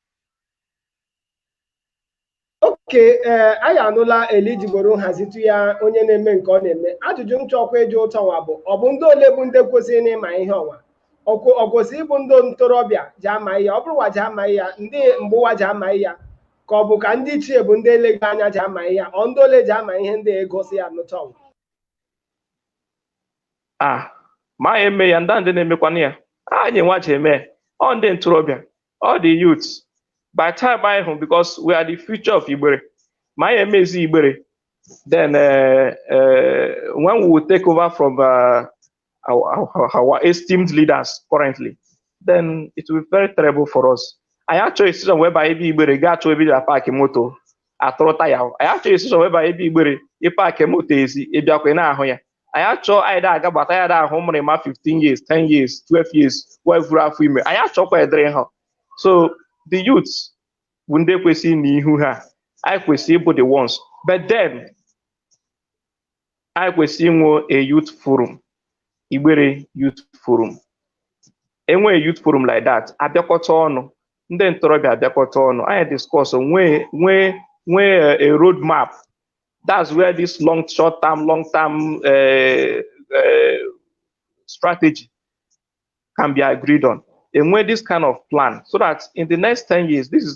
Speaker 1: oke ee anyị anụla elijiboro nhazitụ ya onye na-eme nke ọ na-eme ajụjụ m chọkwa ịjụ ụtọ nwa bụ ọ bụ ndị ole bụ ndị kwesịrị n'ịma ihe ọnwa ọ kwesịrị ịbụ ndị ntorobịa ji ama ya ọ bụrụwa ji ama ya ndị mgbụwa ji ama ya ka ọ bụ ka ndị ichie bụ ndị eleghị anya ji ama ihe ọ ndị ole ji ama ihe ndị egosi ya
Speaker 2: n'ụtọ nwa ma anyị eme ya ndị ndị na-emekwana ya anyị nwa ji eme ọ ndị ntorobịa ọ the youth by time anyị hụ because we are the future of Igbere ma anyị emezi Igbere then uh, uh, when we will take over from uh, our, our, our esteemed leaders currently, then it will be very terrible for us. Anyị achọ a situation whereby ebe igbere ga achọ ebe ịda park moto atọrọ taya ahụ. Anyị achọ a situation whereby ebe igbere ị park moto ezi ịbịakwa ị na-ahụ ya. Anyị achọ anyị da aga gbata anyị da ahụ ụmụrịma 15 years, 10 years, 12 years, wee vuru afọ ime. Anyị achọkwa ụdịrị ihe a. So the youth bụ ndị kwesịrị n'ịhụ ihe a. Anyị kwesịrị ịbụ the ones. But then anyị kwesịrị inwe a youth forum igbere youth forum enwee youth forum like that abịakọta ọnụ ndị ntorobịa abịakọta ọnụ anyị discuss nwee nwee nwee a road map that's where this long short term long term uh, uh, strategy can be agreed on enwee this kind of plan so that in the next 10 years this is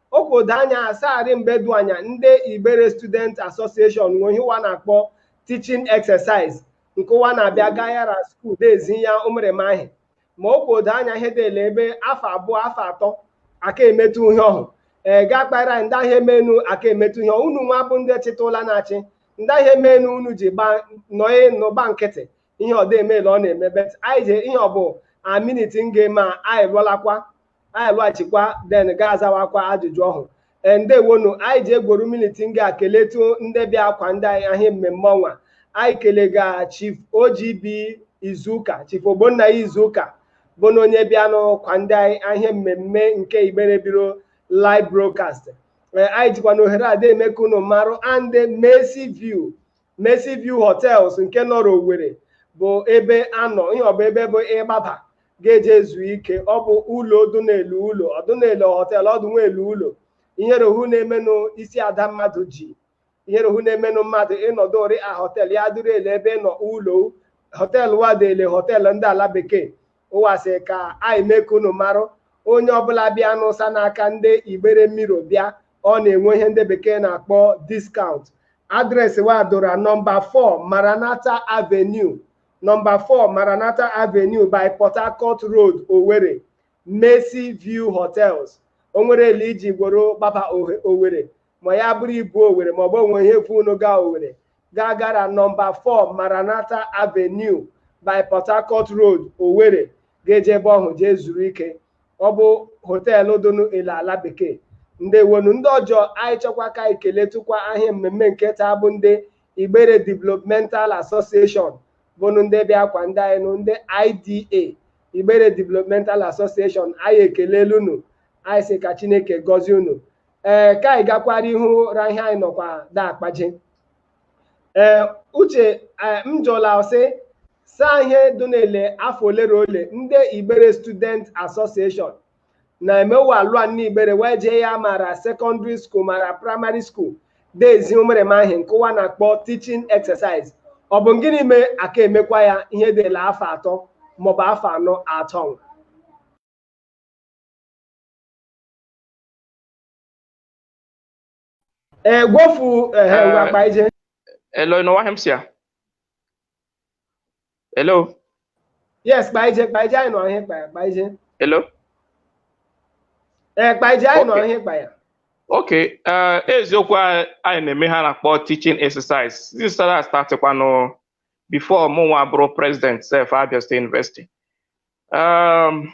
Speaker 1: okodo anya asagharị mgbe dụ anya ndị Igbere Student Association nwe ihe ụwa na-akpọ teaching exercise nke ụwa na-abịa gayara school dezi ya ụmụrịma ihe ma okodo anya ihe dele ebe afọ abụọ afọ atọ aka emetụ ihe ọhụ ee gaa kpara ndị ahịa emenu aka emetụ ihe unu nwa bụ ndị chịta ụla na-achị ndị ahịa emenu unu ji gbaa nọye nọ gba nkịtị ihe ọdọ emeela ọ na-eme but anyị je ihe ọbụ a minit nga ma anyị lụọlakwa anyị lụghachikwa then ga-azawakwa ajụjụ ọhụ Ee, ndewonu anyị ji egworo minit nga keletụ ndị bịa kwado anyị ahịa mmemme ọnwa anyị kelega chief OGB izuụka chief ogbonna ya izuụka bụ na onye bịanụ kwado anyị ahịa mmemme nke Igbere Ebiri live broadcast Ee, anyị jikwa na ohere a na-eme ka unu marụ na ndị Mercy View Mercy View Hotels nke nọrọ Owerri bụ ebe anọ ihe ọ bụ ebe bụ ị gbaba ga-eje ezu ike ọ bụ ụlọ ọ dụ n'ele ụlọ ọ dụ n'ele họtel ọ dụnwa ele ụlọ ihere ọhụ na-emenụ isi ada mmadụ ji ihere ọhụ na-emenụ mmadụ ịnọdụ ori a họtel ya dịrị ele ebe nọ ụlọ họtel wa dị ele họtel ndị ala bekee wa sị ka anyị mee ka unu marụ onye ọbụla bịanụ sa n'aka ndị Igbere Ebiri bịa ọ na-enwe ihe ndị bekee na-akpọ discount adreesị wa dụ ra nọmba 4 Maranatha Avenue nọmba 4 Maranatha Avenue by Port Harcourt Road Owerri Mercy View Hotels o nwere ele i ji gworo gbaba Owerri ma ya bụrụ i bu Owerri ma ọ bụ o nwe ihe vu unu gaa Owerri gaa gara nọmba 4 Maranatha Avenue by Port Harcourt Road Owerri ga-eje ebe ọhụ jee zuru ike ọ bụ họteelụ dụnụ ele ala bekee ndewonu ndị ọjọ anyị chọkwa ka anyị keletụkwa ahịa mmemme nke taa bụ ndị igbere developmental association bụnụ ndị bịa kwado anyị nụ ndị IDA igbere developmental association anyị ekelelu unu anyị sị ka chineke gọzie unu ee ka anyị gakwara ihu ra ihe anyị nọkwa da akpaje ee uche ee, m jụla sị saa ihe dị n'ele afọ ole na ole ndị igbere student association na-emewa alụa na igbere wee jee ya ma ra secondary school ma ra primary school da ezi ụmụrịma ihe nke wa na-akpọ teaching exercise ọ bụ gịnị mee a ka emekwa ya ihe dị ele afọ atọ maọbụ afọ anọ atọ ee gwofu ehe Eh, ngwa akpa ije Hello, ị nọ
Speaker 2: nwa Hemsia? Hello, yes
Speaker 1: kpa ije kpa ije anyị nọ ihe kpa ya kpa ije hello. ee kpa ije anyị nọ Okay. ihe kpa ya
Speaker 2: Okay, eh, eziokwu a- anyị na-eme ihe a na-akpọ teaching exercise. This startịkwanụ before mụ nwa bụrụ president sef Abia State University. Um,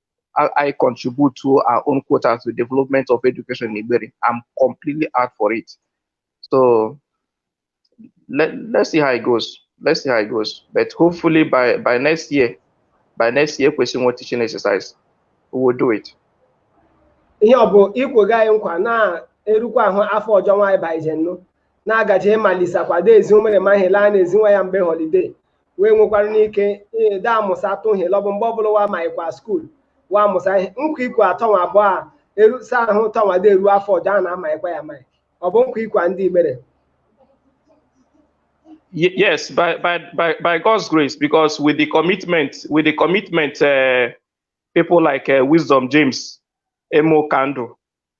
Speaker 2: anyị contribute to our own quota to development of education na Igbere. I'm completely out for it. So let, let's see how it goes. Let's see how it goes. But hopefully by, by next year, by next year, kwesị inwe teaching exercise. We will do it.
Speaker 1: ihe ọ bụ i kwega anyị nkwa na-erukwa ahụ afọ ọjọ nwa anyị baịjenụ na a ga-eje malisakwa da ezi ụmụrịma ihe ele a na-ezi nwa ya mgbe họlide wee nwekwara ike de amụsa atụ ihe lọbụ mgbe ọbụla wa ma ịkwa skuul wa amụsa ihe nkwa ikwu atọ nwa abụọ a erusa ahụ tọnwa de eru afọ ọjọ a na-ama ịkwa ya amaghị ọ bụ nkwa ikwa ndị igbere
Speaker 2: Ye- yes, by, by, by, by God's grace, because with the commitment, with the commitment, uh, people like uh, Wisdom James, Emeka Ndu,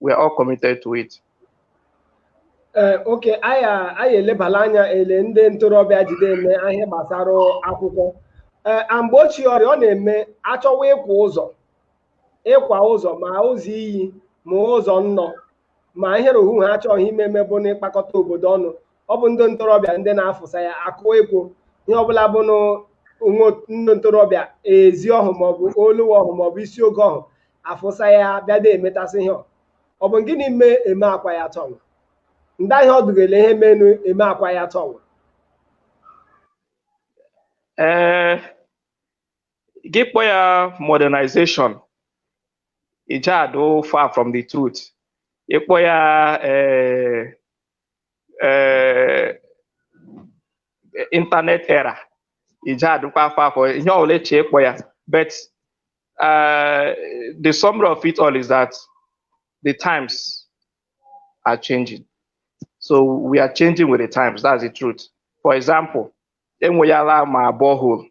Speaker 2: we are all committed to it. ee
Speaker 1: okay anyị a- anyị elebala anya ele ndị ntorobịa ji de eme ihe gbasara akwụkwọ ee a mgbe ochie ọrịa ọ na-eme achọwa ịkwa ụzọ ịkwa ụzọ ma ụzọ iyi ma ụzọ nnọ ma ihe rohu ha achọgha ime eme bụ n'ịkpakọta obodo ọnụ ọ bụ ndị ntorobịa ndị na-afụsa ya akụ ekwe ihe ọbụla bụ na nwa- ndị ntorobịa ezi ọhụ maọbụ olu ọhụ maọbụ isi ogo ọhụ afụsa ya bịa de emetasị ihe ọ bụ gịnị mee eme akwa ya tọnwa ndịa ihe ọ dị gele ihe menụ eme akwa ya tọnwa ee
Speaker 2: eh, gị kpọ ya modernization ị ja adụ far from the truth ị kpọ ya eh, eh, internet era ị ja adụkwa far from ihe ọbụla eche ịkpọ ya but Uh, the summary of it all is that the times are changing. So we are changing with the times. That's the truth. For example, enweyala ma borehole.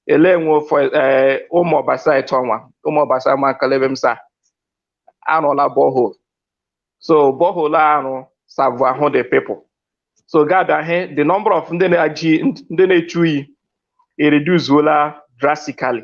Speaker 2: Ele enwe for eh, Ụmụọbasị tọnwa, Ụmụọbasị Amankalu ebe m sa arụla borehole. So borehole ahụ serve-ụgha the people. So gị abịa hụ the number of ndị na-eje ndị na-echu iyi ereduceola drastically.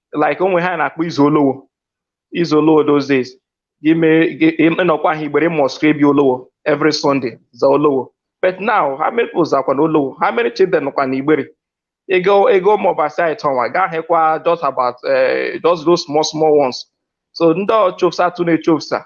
Speaker 2: like o nwe ihe a na-akpọ ịza olowo ịza olowo those days gị mee gị- ị- ị nọkwaha igbere ị must ru ebe olowo every sunday za olowo but now how many people zakwa na olowo how many children nọkwa na igbere ị gaa ị gaa ụmụọbasị tọnwa gaa hekwa just about eh, just those small small ones so ndị chofusatụ na-echofusa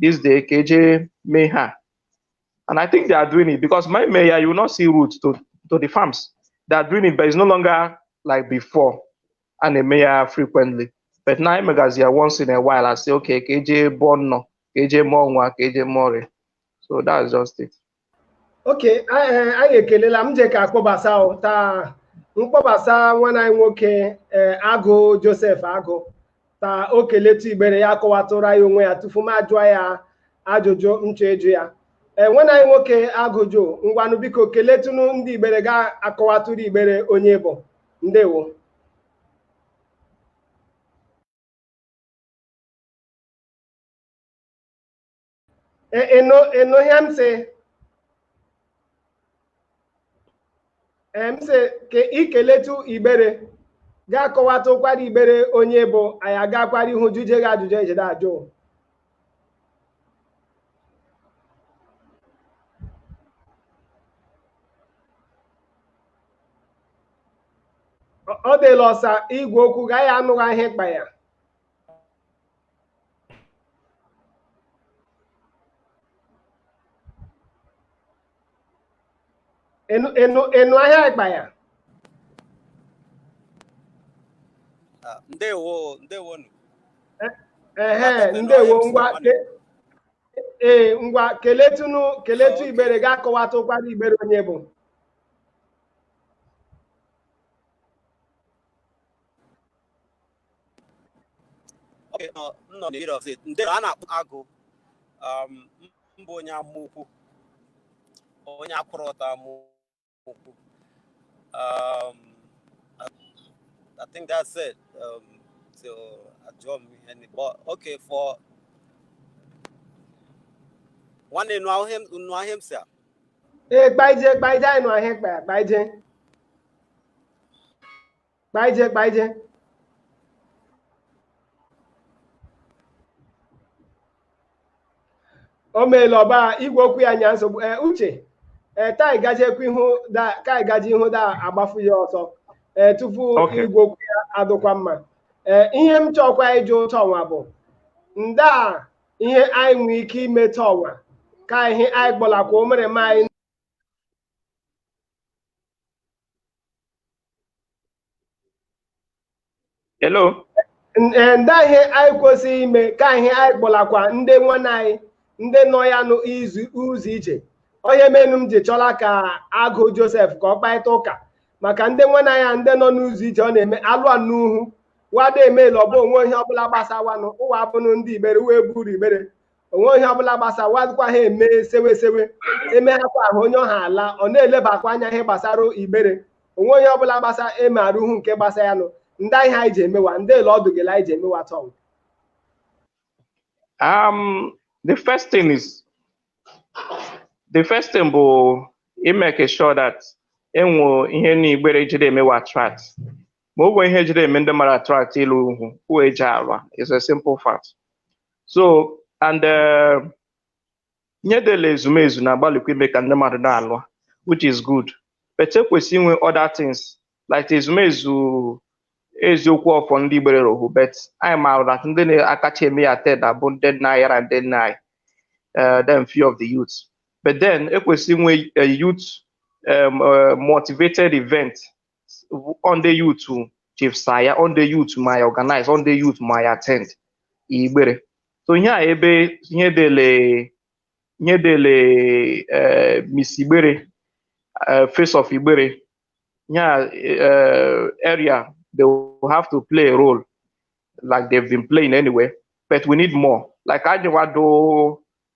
Speaker 2: this day ka eje mee ha and i think they are doing it because my mayor you will not see route to to the farms they are doing it but it's no longer like before and the mayor frequently but now megazi ya once in a while i say okay ka eje bọọ nnọ ka eje mụọ nwa ka eje mụọ ọrịa so that's just it
Speaker 1: okay anyị ekelela m je ka akpọbasa taa m kpọbasa nwanne anyị nwoke eh, agụ joseph agụ taa o keletu igbere ya akọwatụrụ anyị onwe ya tufu m ajụọ ya ajụjụ m chọ ịjụ ya ee eh, nwanne anyị nwoke agụ joe ngwanụ biko keletụnụ ndị igbere gị akọwatụrụ igbere onye ị bụ ndewo Eh, eh, no, ị nụ ihe m sị. M sị ka i keletụ igbere gị akọwatụkwara igbere onye ị bụ anyị agakwara ihu jụje gị ajụjụ ejide ajụ. Ọ- Ọ dịla ọsa igwe okwu gị anyị anụghị ihe ị kpa ya. a nụ a nụ a nụ ihe ị kpa ya Ah,
Speaker 3: ndewo ndewo nụ
Speaker 1: ehe ndewo ngwa ke- ee ngwa keletụnụ keletụ Okay. igbere gị akọwatụkwara igbere onye ị bụ
Speaker 3: nọ n'ire ọzọ ndị a na-akpọ agụ um, m bụ onye Amaukwu onye akwụrụ ọta Amaukwu um, I think that's it um, so ajụọ m ihe n'igbo okay for nwanne ị nụ ihe m sị ee kpaije
Speaker 1: kpaije anyị nụ ihe ị kpaije kpaije kpaije o meela ọba igwe okwu ya nya nsogbu ee uche ee ka anyị gajekwa ihu da ka anyị gaje ihu da agbafu ya ọsọ ee tupu Okay. igwe okwu ya adụkwa mma ee ihe m chọkwa ịjụ tọnwa bụ ndaa ihe anyị nwere ike ime tọnwa ka ihe anyị kpọlakwa omere m anyị Hello. ndaa ihe anyị kwesịrị ime ka ihe anyị kpọlakwa ndị nwanne anyị ndị nọ ya n'ụzọ ije ọ ihe menụ m ji chọla ka agụ Joseph ka ọ kparịta ụka maka ndị nwanne anyị ndị nọ n'ụzọ ije ọ na-eme alụa n'uhu wada emela ọ bụ o nwee ihe ọbụla gbasawanụ ụwa abụnụ ndị igbere uwe buru igbere o nwee ihe ọbụla gbasawazikwa ha eme sewesewe emeghakwa ahụ onye ọha ala ọ na-elebakwa anya ihe gbasara igbere o nwee ihe ọbụla gbasa eme arụhu nke gbasa ya nụ ndaa ihe anyị ji emewa ndị ele ọdụ gele anyị ji emewa tọnwa
Speaker 2: um the first thing is the first thing bụ i make sure that enwe ihe n'igbere jide eme wa attract ma ọ bụ ihe e jide eme ndị mmadụ attract ịlụ uhu uwe eji alwa is a simple fact so and eh, ihe dị ele ezumezu na-agbalịkwa ime ka ndị mmadụ na-alụa which is good but ekwesị inwe other things like ezumezu eziokwu ọfọ ndị igbere rohu but anyị maara that ndị na-akacha eme ya today bụ ndị nna anyị yara ndị nne anyị eh, then few of the youth but then ekwesị inwe a youth um, uh, motivated event on the youth chief saya on the youth my organize on the youth my attend igbere so ihe a ebe ihe dele ihe dele eh, miss igbere eh, face of igbere ihe a eh, area they will have to play a role like they've been playing anyway but we need more like ajewado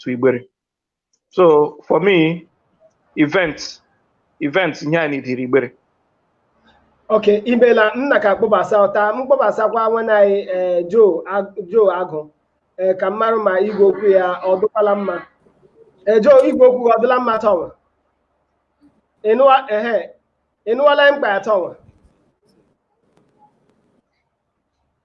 Speaker 2: to Igbere. So for me, events, events ihe a need r'Igbere.
Speaker 1: Okay, imela nna ka kpọbasa ọta m kpọbasakwa nwanne anyị eh, Joe Ag- Joe Agụ eh, ka m marụ ma igwe okwu ya ọ dụkwala mma. Eh, Joe igwe okwu gị ọ dụla mma tọnwa? Ị nụwa ehe ị nụwala mkpa ya tọnwa?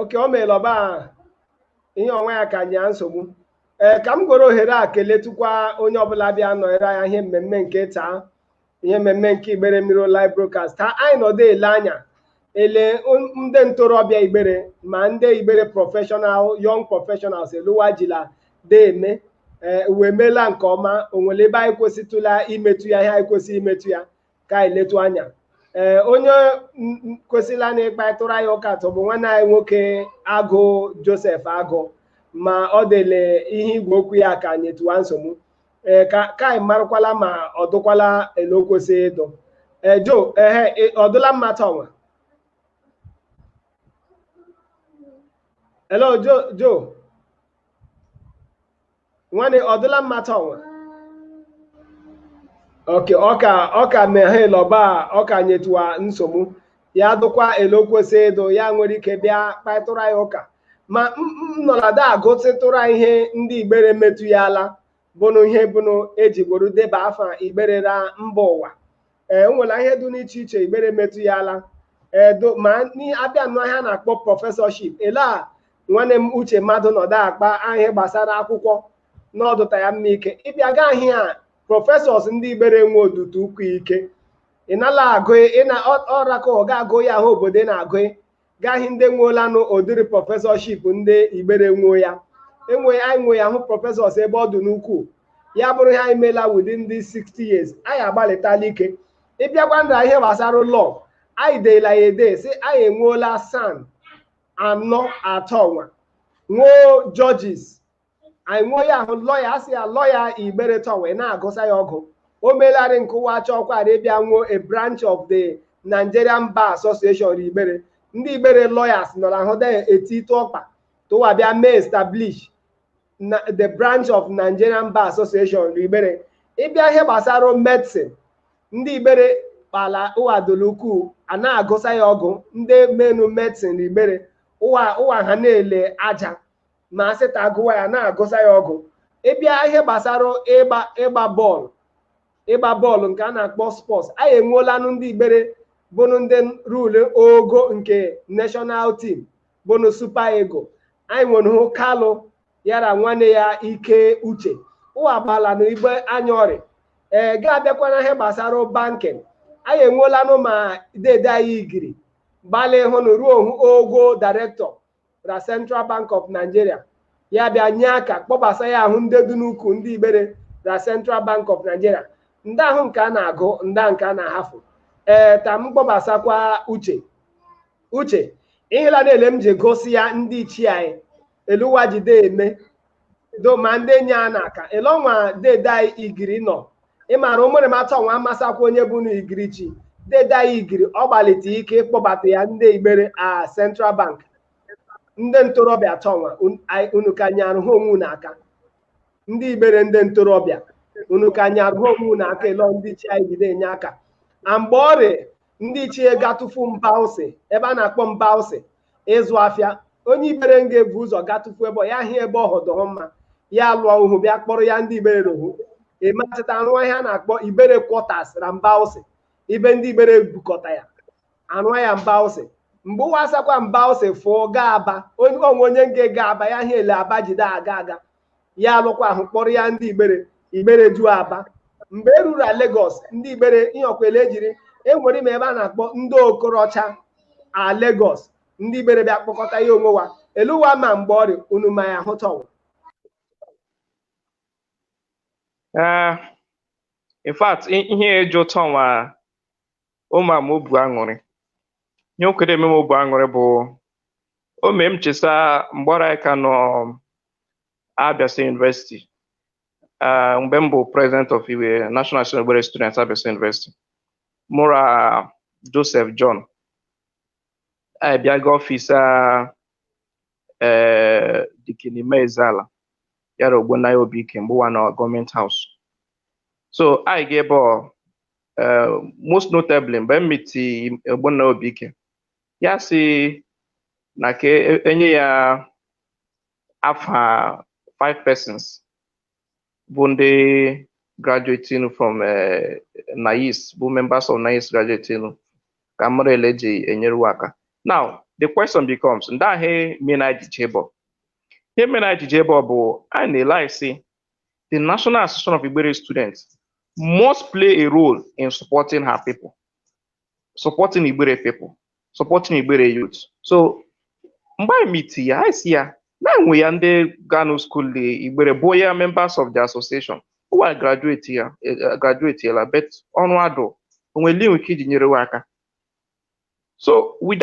Speaker 1: okay o meela ọba ihe ọnwa ya ka nye ya nsogbu ee ka m gworo ohere a keletukwa onye ọbụla bịa nọnyere anyị ihe mmemme nke taa ihe mmemme nke igbere ebiri live broadcast taa anyị nọdụ ele anya ele ndị ntorobịa igbere ma ndị igbere professional young professionals ele ụwa jila de eme ee ụwa emeela nke ọma o nwere ebe anyị kwesịtụla imetụ ya ihe anyị kwesịrị imetụ ya ka anyị letu anya ee onye m- m- kwesịla na ịkparịtụrụ anyị ụka tụ bụ nwanne anyị nwoke agụ joseph agụ ma ọ dị ele ihe igwe okwu ya ka nyetụwa nsogbu ee ka ka anyị marụkwala ma ọ dụkwala ele o kwesịrị ịdụ ee joe ehe ị- ọ dụla mma taa ọnwa hello joe joe nwanne ọ dụla mma taa ọnwa okay ọ ka ọ ka meghe lọba ọ ka nyetụwa nsogbu ya dụkwa ele o kwesị ịdụ ya nwere ike bịa kparịtụrụ anyị ụka ma m- m nọlada agụsịtụrụ anyị ihe ndị igbere metụ ya ala bụnụ ihe bụnụ eji gboro deba afa igbere ra mba ụwa ee o nwere ihe dị n'iche iche igbere metụ ya ala edo ma n'i- abịa nnọọ ihe a na-akpọ professorship ele a nwanne m uche mmadụ nọdụ akpa ihe gbasara akwụkwọ n'ọdụta ya mma ike ị bịa gaa ihe a professors ndị igbere nwe ọ dụta ukwu ike ị nala agụ ị na ọ- ọrakọ ọ ga-agụ ya aha obodo ị na-agụ gaghị ndị nweolanụ ụdịrị professorship ndị igbere nwuo ya enwe anyị nwe ya hụ professors ebe ọ dị n'ukwuu ya bụrụ ihe anyị meela within this 60 years anyị agbalịtala ike ị bịakwanụ ra ihe gbasara law anyị deela ya ede sị anyị enweola SAN anọ tọnwa nwee judges anyị nwoo ya ahụ lọya asị ya lọya igbere tọnwa a na-agụsa ya ọgụ o melarị nke ụwa chọkwara ịbịa nwoo a branch of the Nigerian Bar Association igbere ndị igbere lawyers nọrọ ahụ de eti ịtụ ọkpa tụwa bịa mee establish the branch of Nigerian Bar Association igbere ị bịa ihe gbasara medicine ndị igbere kpala ụwa doro ukwuu a na-agụsa ya ọgụ ndị menụ medicine igbere ụwa ha na-ele aja ma a sị ta agụwa ya na-agụsa ya ọgụ ị bịa ihe gbasara ịgba bọọlụ ịgba bọọlụ nke a na-akpọ sports anyị enweolanụ ndị igbere bụnụ ndị rule ogo nke national team bụnụ Super Eagle anyị nwere hụ kalụ yara nwanne ya ike uche ụwa gbala na mgbe anya ọrịa ee ga-abịakwa na ihe gbasara banking anyị enweolanụ ma dede anyị igiri gbalị hụnụ ruo hụ ogo director na Central Bank of Nigeria ya bịa nye aka kpọbasa ya ahụ ndị dị n'ukwu ndị igbere na Central Bank of Nigeria ndị ahụ nke a na-agụ ndị nke a na-ahafụ ee ta m kpọbasakwa uche uche ihela na-ele m ji gosi ya ndị ichie anyị ele ụwa jide eme do ma ndị enyi a na-aka ele nwa dede anyị igiri nọ ị mara ụmụrịma tọnwa amasakwa onye bụnụ igiri chi dede anyị igiri ọ gbalite ike ịkpọbata ya ndị igbere a central bank ndị ntorobịa tọnwa un- ai- unu ka nyarụ ha onwe unu aka ndị igbere ndị ntorobịa unu ka nyarụ ha onwe unu aka ele ndị ichie anyị jide enye aka a mgbe ọrịa ndị ichie gatụfu Mbawsi ebe a na-akpọ Mbawsi ịzụ afịa onye igbere nga ebu ụzọ gatụfu ebe ya hịa ebe ọhụ dụ mma ya lụọ uhu bịa kpọrọ ya ndị igbere ruo hụ e mechita a rụọ ihe a na-akpọ igbere quarters na Mbawsi ebe ndị igbere bukọta ya arụọ ya Mbawsi mgbe ụwa asakwa Mbawsi fụọ gaa aba onye onwe onye nge gaa aba ya hịa ele aba jide aga aga ya alụkwa uhu kpọrọ ya ndị igbere igbere ju aba mgbe e ruru Lagos ndị igbere ihe ọ kwa ele e jiri enwere m ebe a na-akpọ ndị okorocha a Lagos ndị igbere bịa kpọkọta ya onwe wa ele ụwa ma mgbe ọrịa unu ma ya hụ tọnwa
Speaker 2: in fact ihe eji tọnwa eme m obu aṅụrị ihe o kwere eme m obu aṅụrị bụ o mee m chesa mgbe ọrị anyị ka nọ Abia State University ah, mgbe m bụ president of Igbere National Igbere Students Abia State University mụ ra Joseph John anyị bịa gaa ọfịs a ee Deacon Emma Ezeala yara Ogbonnaya Obike mgbe ụwa nọ Government House so anyị ga ebe ọ eh, most notably mgbe m miti Ogbonna Obike ya sị na ka e- enye ya afa five persons bụ ndị graduating from eh, NAIS bụ members of NAIS graduating ka m mara ele e ji enyeru wa aka now the question becomes ndị ahụ m na-eji eje ebe ọ ihe m na-eji eje ebe ọ bụ a na-ele anyị si the National Association of Igbere Students must play a role in supporting her people, supporting Igbere people, supporting Igbere youth. So mgbe anyị miti ya, anyị sị ya na enwe ya ndị gaa na school dị Igbere bụ ya members of the association. Ụwa graduate ya, eh, graduatela, but ọrụ adụ, o nwe ele i nwe ike iji nyere wa aka. So with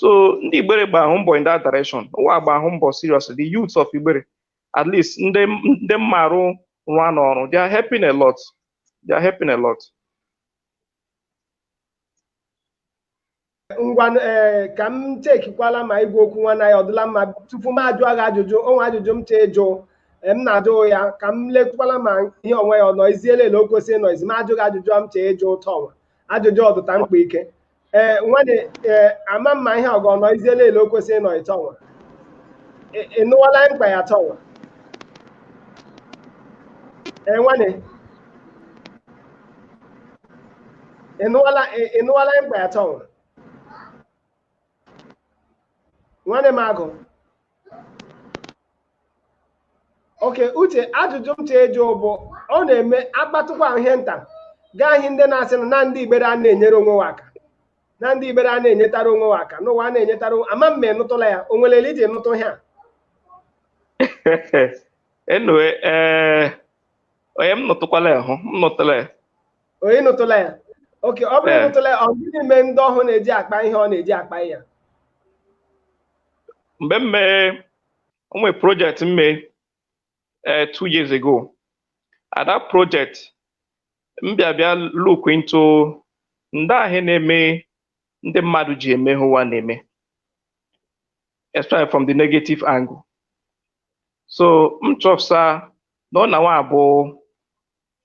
Speaker 2: so ndị igbere gba ahụ mbọ in that direction ụwa gba ahụ mbọ seriously the youths of igbere at least ndị ndị mmarụ rụọ n'ọrụ they are helping a lot they are helping a lot
Speaker 1: ngwa ee ka m chekikwala ma igwe okwu nwanne anyị ọ dịla mma tupu m ajụọ gị ajụjụ o nwe ajụjụ m chọ ịjụ m na-ajụ ya ka m lekwala ma ihe ọnwa ọ nọziela ele o kwesịrị ịnọzi m ajụ gị ajụjụ m chọ ịjụ tọ ọnwa ajụjụ ọ dụta mkpa ike ee nwanne ee ama m ma ihe ọgọ nọziela ele o kwesịrị ịnọ tọ nwa Ị- ị nụwala ihe m kpa ya tọ nwa ee nwanne ị nụwala ị- ị nụwala ihe m kpa ya tọ nwa nwanne m agụ okay uche ajụjụ m chọ ịjụ bụ ọ na-eme akpatụkwa ihe nta gaa ihe ndị na-asị na na ndị igbere a na-enyere onwe wa aka na ndị igbere a na-enyetara onwe wa aka na ụwa a na-enyetara onwe- ama m ma ị nụtụla ya o nwere ele i ji nụtụ ihe
Speaker 2: a enwe ee onye m nụtụkwala ya hụ m nụtụla ya O ị
Speaker 1: nụtụla ya okay ọ bụrụ Ee. ị nụtụla ya ọ gịnị mee ndị ọhụụ na-eji akpa ihe ọ na-eji akpa
Speaker 2: ya mgbe m mee o nwere project m mee eh, two years ago at that project m bịa bịa look into ndị ahụ na-eme ndị mmadụ ji eme ihe ụwa na-eme especially from the negative angle so m chọpụta na ọ na nwa abụ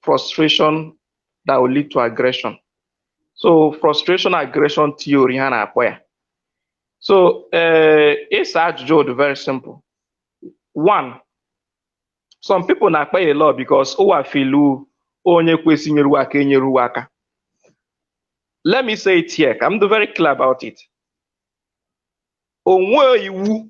Speaker 2: frustration that will lead to aggression so frustration aggression theory ha na-akpọ ya so ee eh, ịsa ajụjụ ọ dụ very simple one some people na-akpa ele ọ because ụwa feel onye kwesị inyeru wa aka enyeru wa aka let me say it here ka m dụ very clear about it o nwe iwu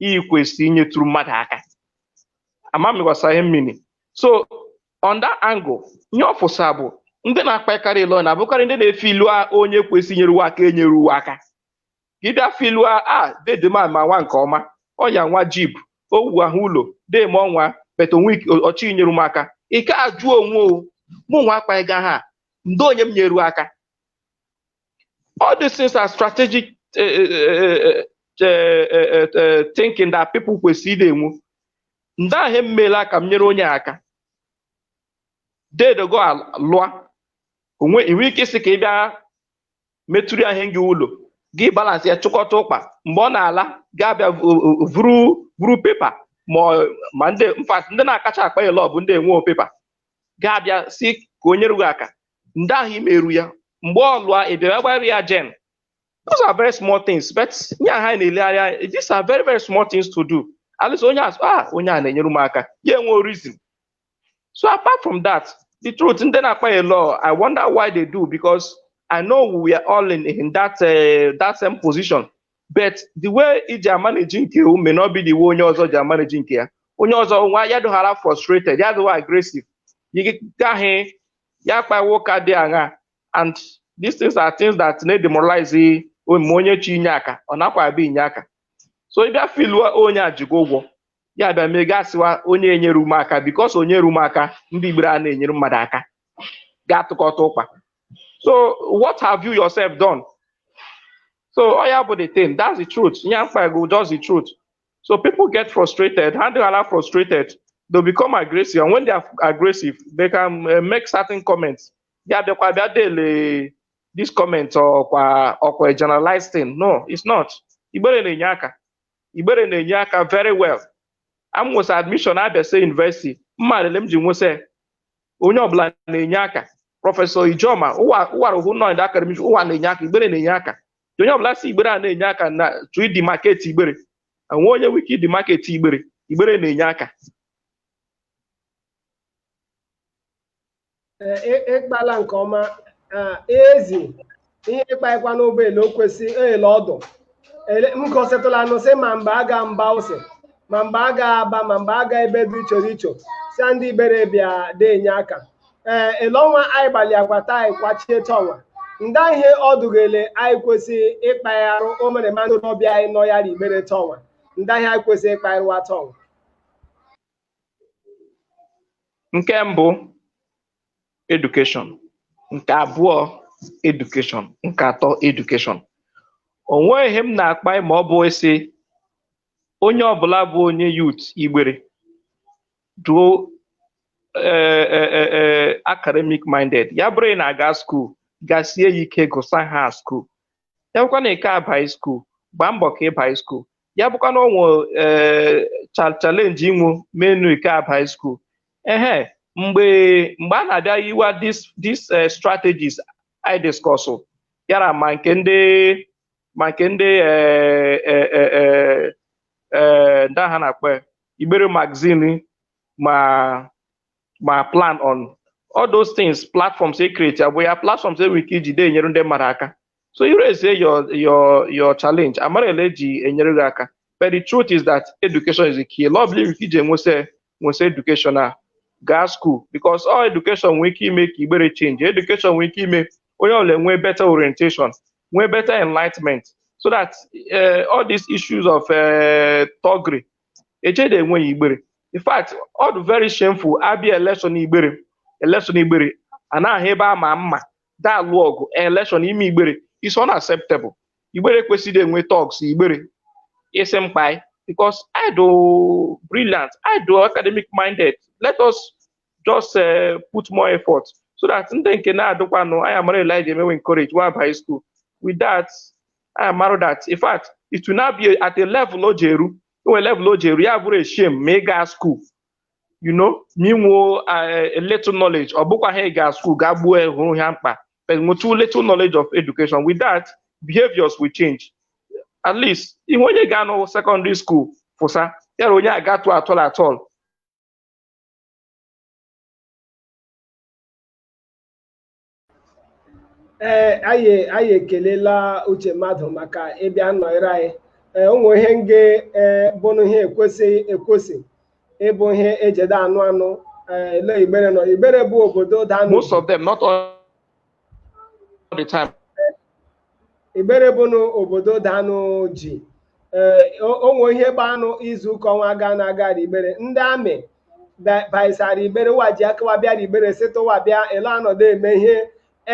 Speaker 2: ị kwesịrị inyetụrụ mmadụ aka ama m ị ghọsa ihe m mean so on that angle ihe ọfụsa bụ ndị na-akpakarị ilo na-abụkarị ndị na-efeel a onye kwesịrị inyere ụwa aka enyere ụwa aka gị bịa feel a a dede m a ma nwa nke ọma ọ ya nwa jib owu ahụ ụlọ dema ọnwa but o nwe ike- ọchị inyere m aka i ke ajụ onwe o mụ nwa akpaghịga ha nda onye m nyeru aka All these things are strategic uh, uh, uh, thinking that people kwesịrị ịdị enwu. Nda ihe m meela ka m nyere onye aka. Dede go alụa. O nwe i nwe ike ịsị ka ị bịa metụrụ ya ihe gị ụlọ gị balance ya chịkọta ụkpa mgbe ọ na-ala gaa bịa vuru vuru paper ma ndị in fact ndị na-akacha akpa ya lọọ bụ ndị enwe paper gaa bịa sị ka o nyere gị aka nda ihe i meru ya mgbe ọ lụọ ị bịara gbara ya gen those are very small things but nye ha na-elegharị anya these are very very small things to do at least onye a sị ah onye a na-enyere m aka ya enwe reason so apart from that the truth ndị na-akpa ya lọọ i wonder why they do because i know we are all in, in that uh, that same position but the way i ji amanage nke o may not be the way onye ọzọ ji amanage nke ya onye ọzọ nwa ya dụghara frustrated ya dụwa aggressive you get ya kpawa ụka dị aṅa and these things are things that na-edemoralize onye chi inye aka ọ nakwa abịa inye aka so ị bịa feel a onye a ji gị ụgwọ ya bịa mee gaa sịwa onye enyeru m aka because o nyeru m aka ndị igbere a na-enyere mmadụ aka ga-atụkọta ụkpa so what have you yourself done so ọ ya bụ the thing that's the truth ihe m kpa go just the truth So people get frustrated. Ha dụhala frustrated, they become aggressive. And when they are aggressive, they can uh, make certain comments. Ya bịa dị ele this comment ọ bụ a generalized thing. No, it's not. Igbere na-enye aka. Ibere na-enye aka very well. M nwesa admission Abia State University. M ma ele m ji nwesa onye ọbụla na-enye aka. Professor Ijoma, ụwa ụwa rụhụ nọ in the academic, ụwa na-enye aka, Ibere na-enye aka. onye ọbụla sị igbere a na-enye aka na-achọ ịdemarket igbere enwe onye nwere ike ịdemarket igbere igbere na-enye
Speaker 1: aka ị kpala nke ọma ezi ihe ị kpaikwa n'ọ bụ ele o kwesị ele ọ dụ m kọsịtụla anụ sị ma mgbe a ga mbawsi ma mgbe a ga aba ma mgbe a ga ebe dị iche iche sị ndị igbere bịa dị enye aka ee ele ọnwa anyị gbalị agbata anyị kwachie taa ọnwa nda ihe ọ dụ gị ele anyị kwesịrị ịkpagharụ o mere mmadụ n'ọbịa anyị nọ ya r'igbere taa ọnwa nda ihe anyị kwesịrị ịkpagharụ ụwa taa
Speaker 2: ọnwa nke mbụ education nke abụọ education nke atọ education o nweghị ihe m na-akpa ma ọ bụghị ịsị onye ọbụla bụ onye youth igbere duo eh, eh, eh, eh, academic minded ya bụrụ ị na-aga school gasie ya ike gụsa ha school ya bụkwa na ị ka abaghị school gbaa mbọ ka ị bai school ya bụkwa na o nwe eh, cha- challenge i nwo menụ ị ka abaghị school ehe mgbe mgbe a na-abịa yiwa these these eh, strategies I discuss yara ma nke ndị ma nke ndị eh, eh, eh, eh, eh, ndị a ha na-akpọ ya, igbere magazine ma ma plan on all those things platforms e create ya bụ ya platforms e nwere ike iji dee enyere ndị mmadụ aka so you raise your your your challenge a mara ele e ji enyere gị aka but the truth is that education is the key ele ọbụla i nwere ike iji enwesị nwesị education a gaa school because ọ education nwee ike ime ka igbere change education nwee ike ime onye ọbụla nwee better orientation nwee better enlightenment so that eh, all these issues of eh, thuggery echede enweghị igbere in fact ọ dụ very shameful a bịa election igbere election igbere a na-ahụ ebe a ma mma da-alụ ọgụ election ime igbere is unacceptable igbere ekwesị de enwe thugs igbere isi mkpai because ị dụ brilliant ị dụ academic minded let us just uh, put more effort so that ndị nke na-adịkwanụ anyị amara ele e ja-eme wee encourage wa bai school with that anyị amara that in fact it will now be at a level o ji eru e nwe level o ji eru ya bụrụ a shame ma ị gaa school you know ma ị nwee a little knowledge ọ bụkwa ha ị ga school gaa gbuo ya hụrụ ha mkpa but nwetụ little knowledge of education with that behaviors will change at least ihe onye ganụ secondary school fụsa ya na onye agatụ at all at all
Speaker 1: ee anyị anyị ekelela uche mmadụ maka ịbịa nọnyere anyị ee ụmụ ihe nge ee bụnụ ihe ekwesịghị ekwesị ịbụ ihe e je de anụ anụ ee ele igbere nọ igbere bụ obodo danụ Most of them, not
Speaker 2: all the time.
Speaker 1: Igbere bụ na obodo danụ ji ee o nwe ihe gbanụ izu ụka ọnwa ganụ aga Igbere ndị amị baisara Igbere ụwa ji aka wa bịara Igbere sịta ụwa bịa ele a nọdụ eme ihe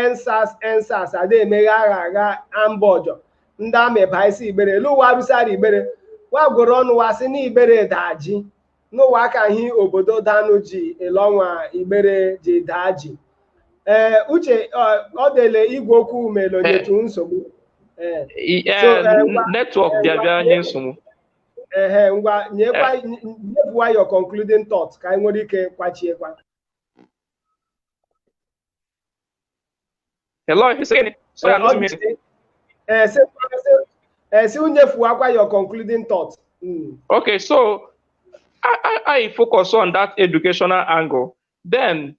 Speaker 1: EndSARS EndSARS ada emeghe agha agha amba ọjọ ndị amị baisi Igbere ele ụwa rusara Igbere wa gworo ọnụ wa sị na Igbere da ji na ụwa akahị obodo danụ ji ele ọnwa igbere ji daa ji ee uche ọ dụ ele igwe okwu mere o nyetụ nsogbu
Speaker 2: network bịa bịa nye nsogbu ehe
Speaker 1: ngwa nyekwa nyebuwa your concluding thought ka anyị nwere ike kwachiekwa
Speaker 2: Hello, if you say anything, so I don't miss it. Eh,
Speaker 1: say, say, eh, say, Unyefu, what your concluding thoughts? Mm.
Speaker 2: Okay, so I, I, I focus on that educational angle. Then,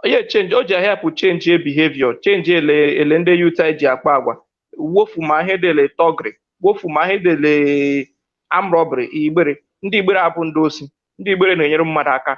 Speaker 2: yeah, change. O ji help change your behavior, change ele ndị youth anyị ji akpa agwa. Wofu ma ihe dele thuggery, wofu ma ihe dele arm robbery, igbere. Ndị igbere abụ ndị osi, ndị igbere na-enyere mmadụ aka.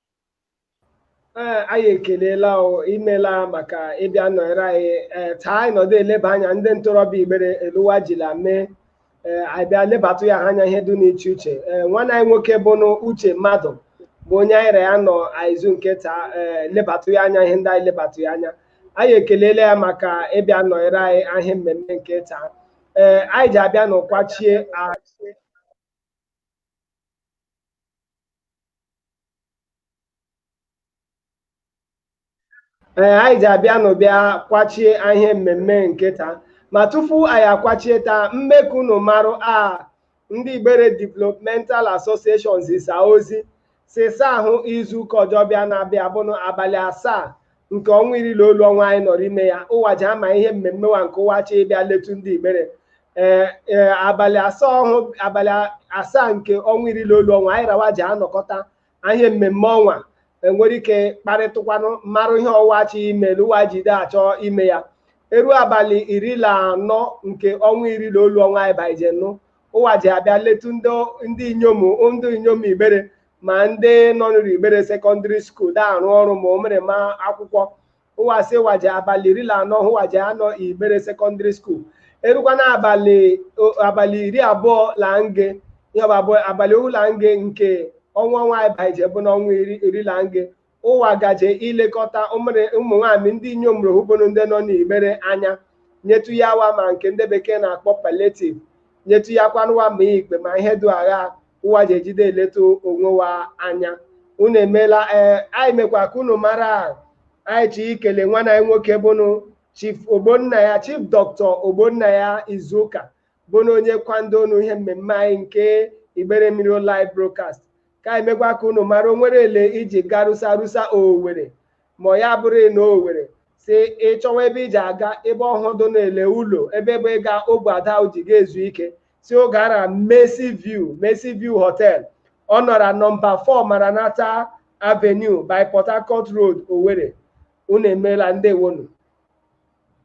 Speaker 1: ee anyị ekelela o imeela maka ịbịa nọnyere anyị ee taa anyị nọdụ eleba anya ndị ntorobịa igbere ele ụwa jila mee ee anyị bịa lebatụ ya ha anya ihe dị n'iche iche ee nwanne anyị nwoke bụ nụ uche mmadụ bụ onye anyị ra ya nọ a izu nke taa ee lebatụ ya anya ihe ndị anyị lebatụ ya anya anyị ekelela ya maka ịbịa nọnyere anyị a ihe mmemme nke taa ee anyị ji abịa nụ kwachie a ee anyị ji abịa nụ bịa kwachie ihe mmemme nke taa ma tupu anyị akwachie taa m mee ka unu marụ a ndị Igbere Developmental Association zisa ozi sisa ahụ izu ụka ọjọ bịa na-abịa bụnụ abalị asaa nke ọnwa iri la olu ọnwa anyị nọrọ ime ya ụwa ji ama ihe mmemme wa nke ụwa chọ ịbịa letu ndị igbere ee ee abalị asaa ọhụ abalị asaa nke ọnwa iri la olu ọnwa anyị ra wa ji anọkọta a ihe mmemme ọnwa enwere ike kparịtụkwanụ marụ ihe ụwa chi ime na ụwa ji de achọ ime ya eru abalị iri la anọ nke ọnwa iri la olu ọnwa anyị baije nụ ụwa ji abịa letu ndị ndị inyom ndị inyom igbere ma ndị nọ n'Igbere secondary school da-arụ ọrụ ma ụmịrịma akwụkwọ ụwa sị ụwa ji abalị iri la anọ ụwa ji anọ Igbere secondary school erukwa na abalị abalị iri abụọ la nge ya bụ abalị ohu la nge nke ọnwa ọnwa anyị baije bụnụ ọnwa iri la nge ụwa gaje ilekọta ụmụ nwaanyị ndị inyom ọhụ bụnụ ndị nọ n'igbere anya nyetu ya wa ma nke ndị bekee na-akpọ palliative nyetu ya kwanụ wa ma ikpe ma ihe dị agha ụwa ji ejide eleta onwe wa anya unu emeela ee anyị mekwa ka unu mara anyị chi ikele nwanne anyị nwoke bụnụ Chief Ogbonnaya Chief Doctor Ogbonnaya Izuka bụnụ onye kwado nụ ihe mmemme anyị nke igbere mmiri live broadcast ka anyị mekwa ka unu mara o nwere ele i ji garusa rusa Owerri ma ya bụrụ na Owerri sị ị chọwa ebe i ji aga ebe ọhụ dụ na ele ụlọ ebe bụ ịga ogbe ada ji ga-ezu ike sị ọ gaara Mercy View Mercy View Hotel ọ nọra nọmba 4 Maranatha Avenue by Port Harcourt Road Owerri unu emeela ndewo nụ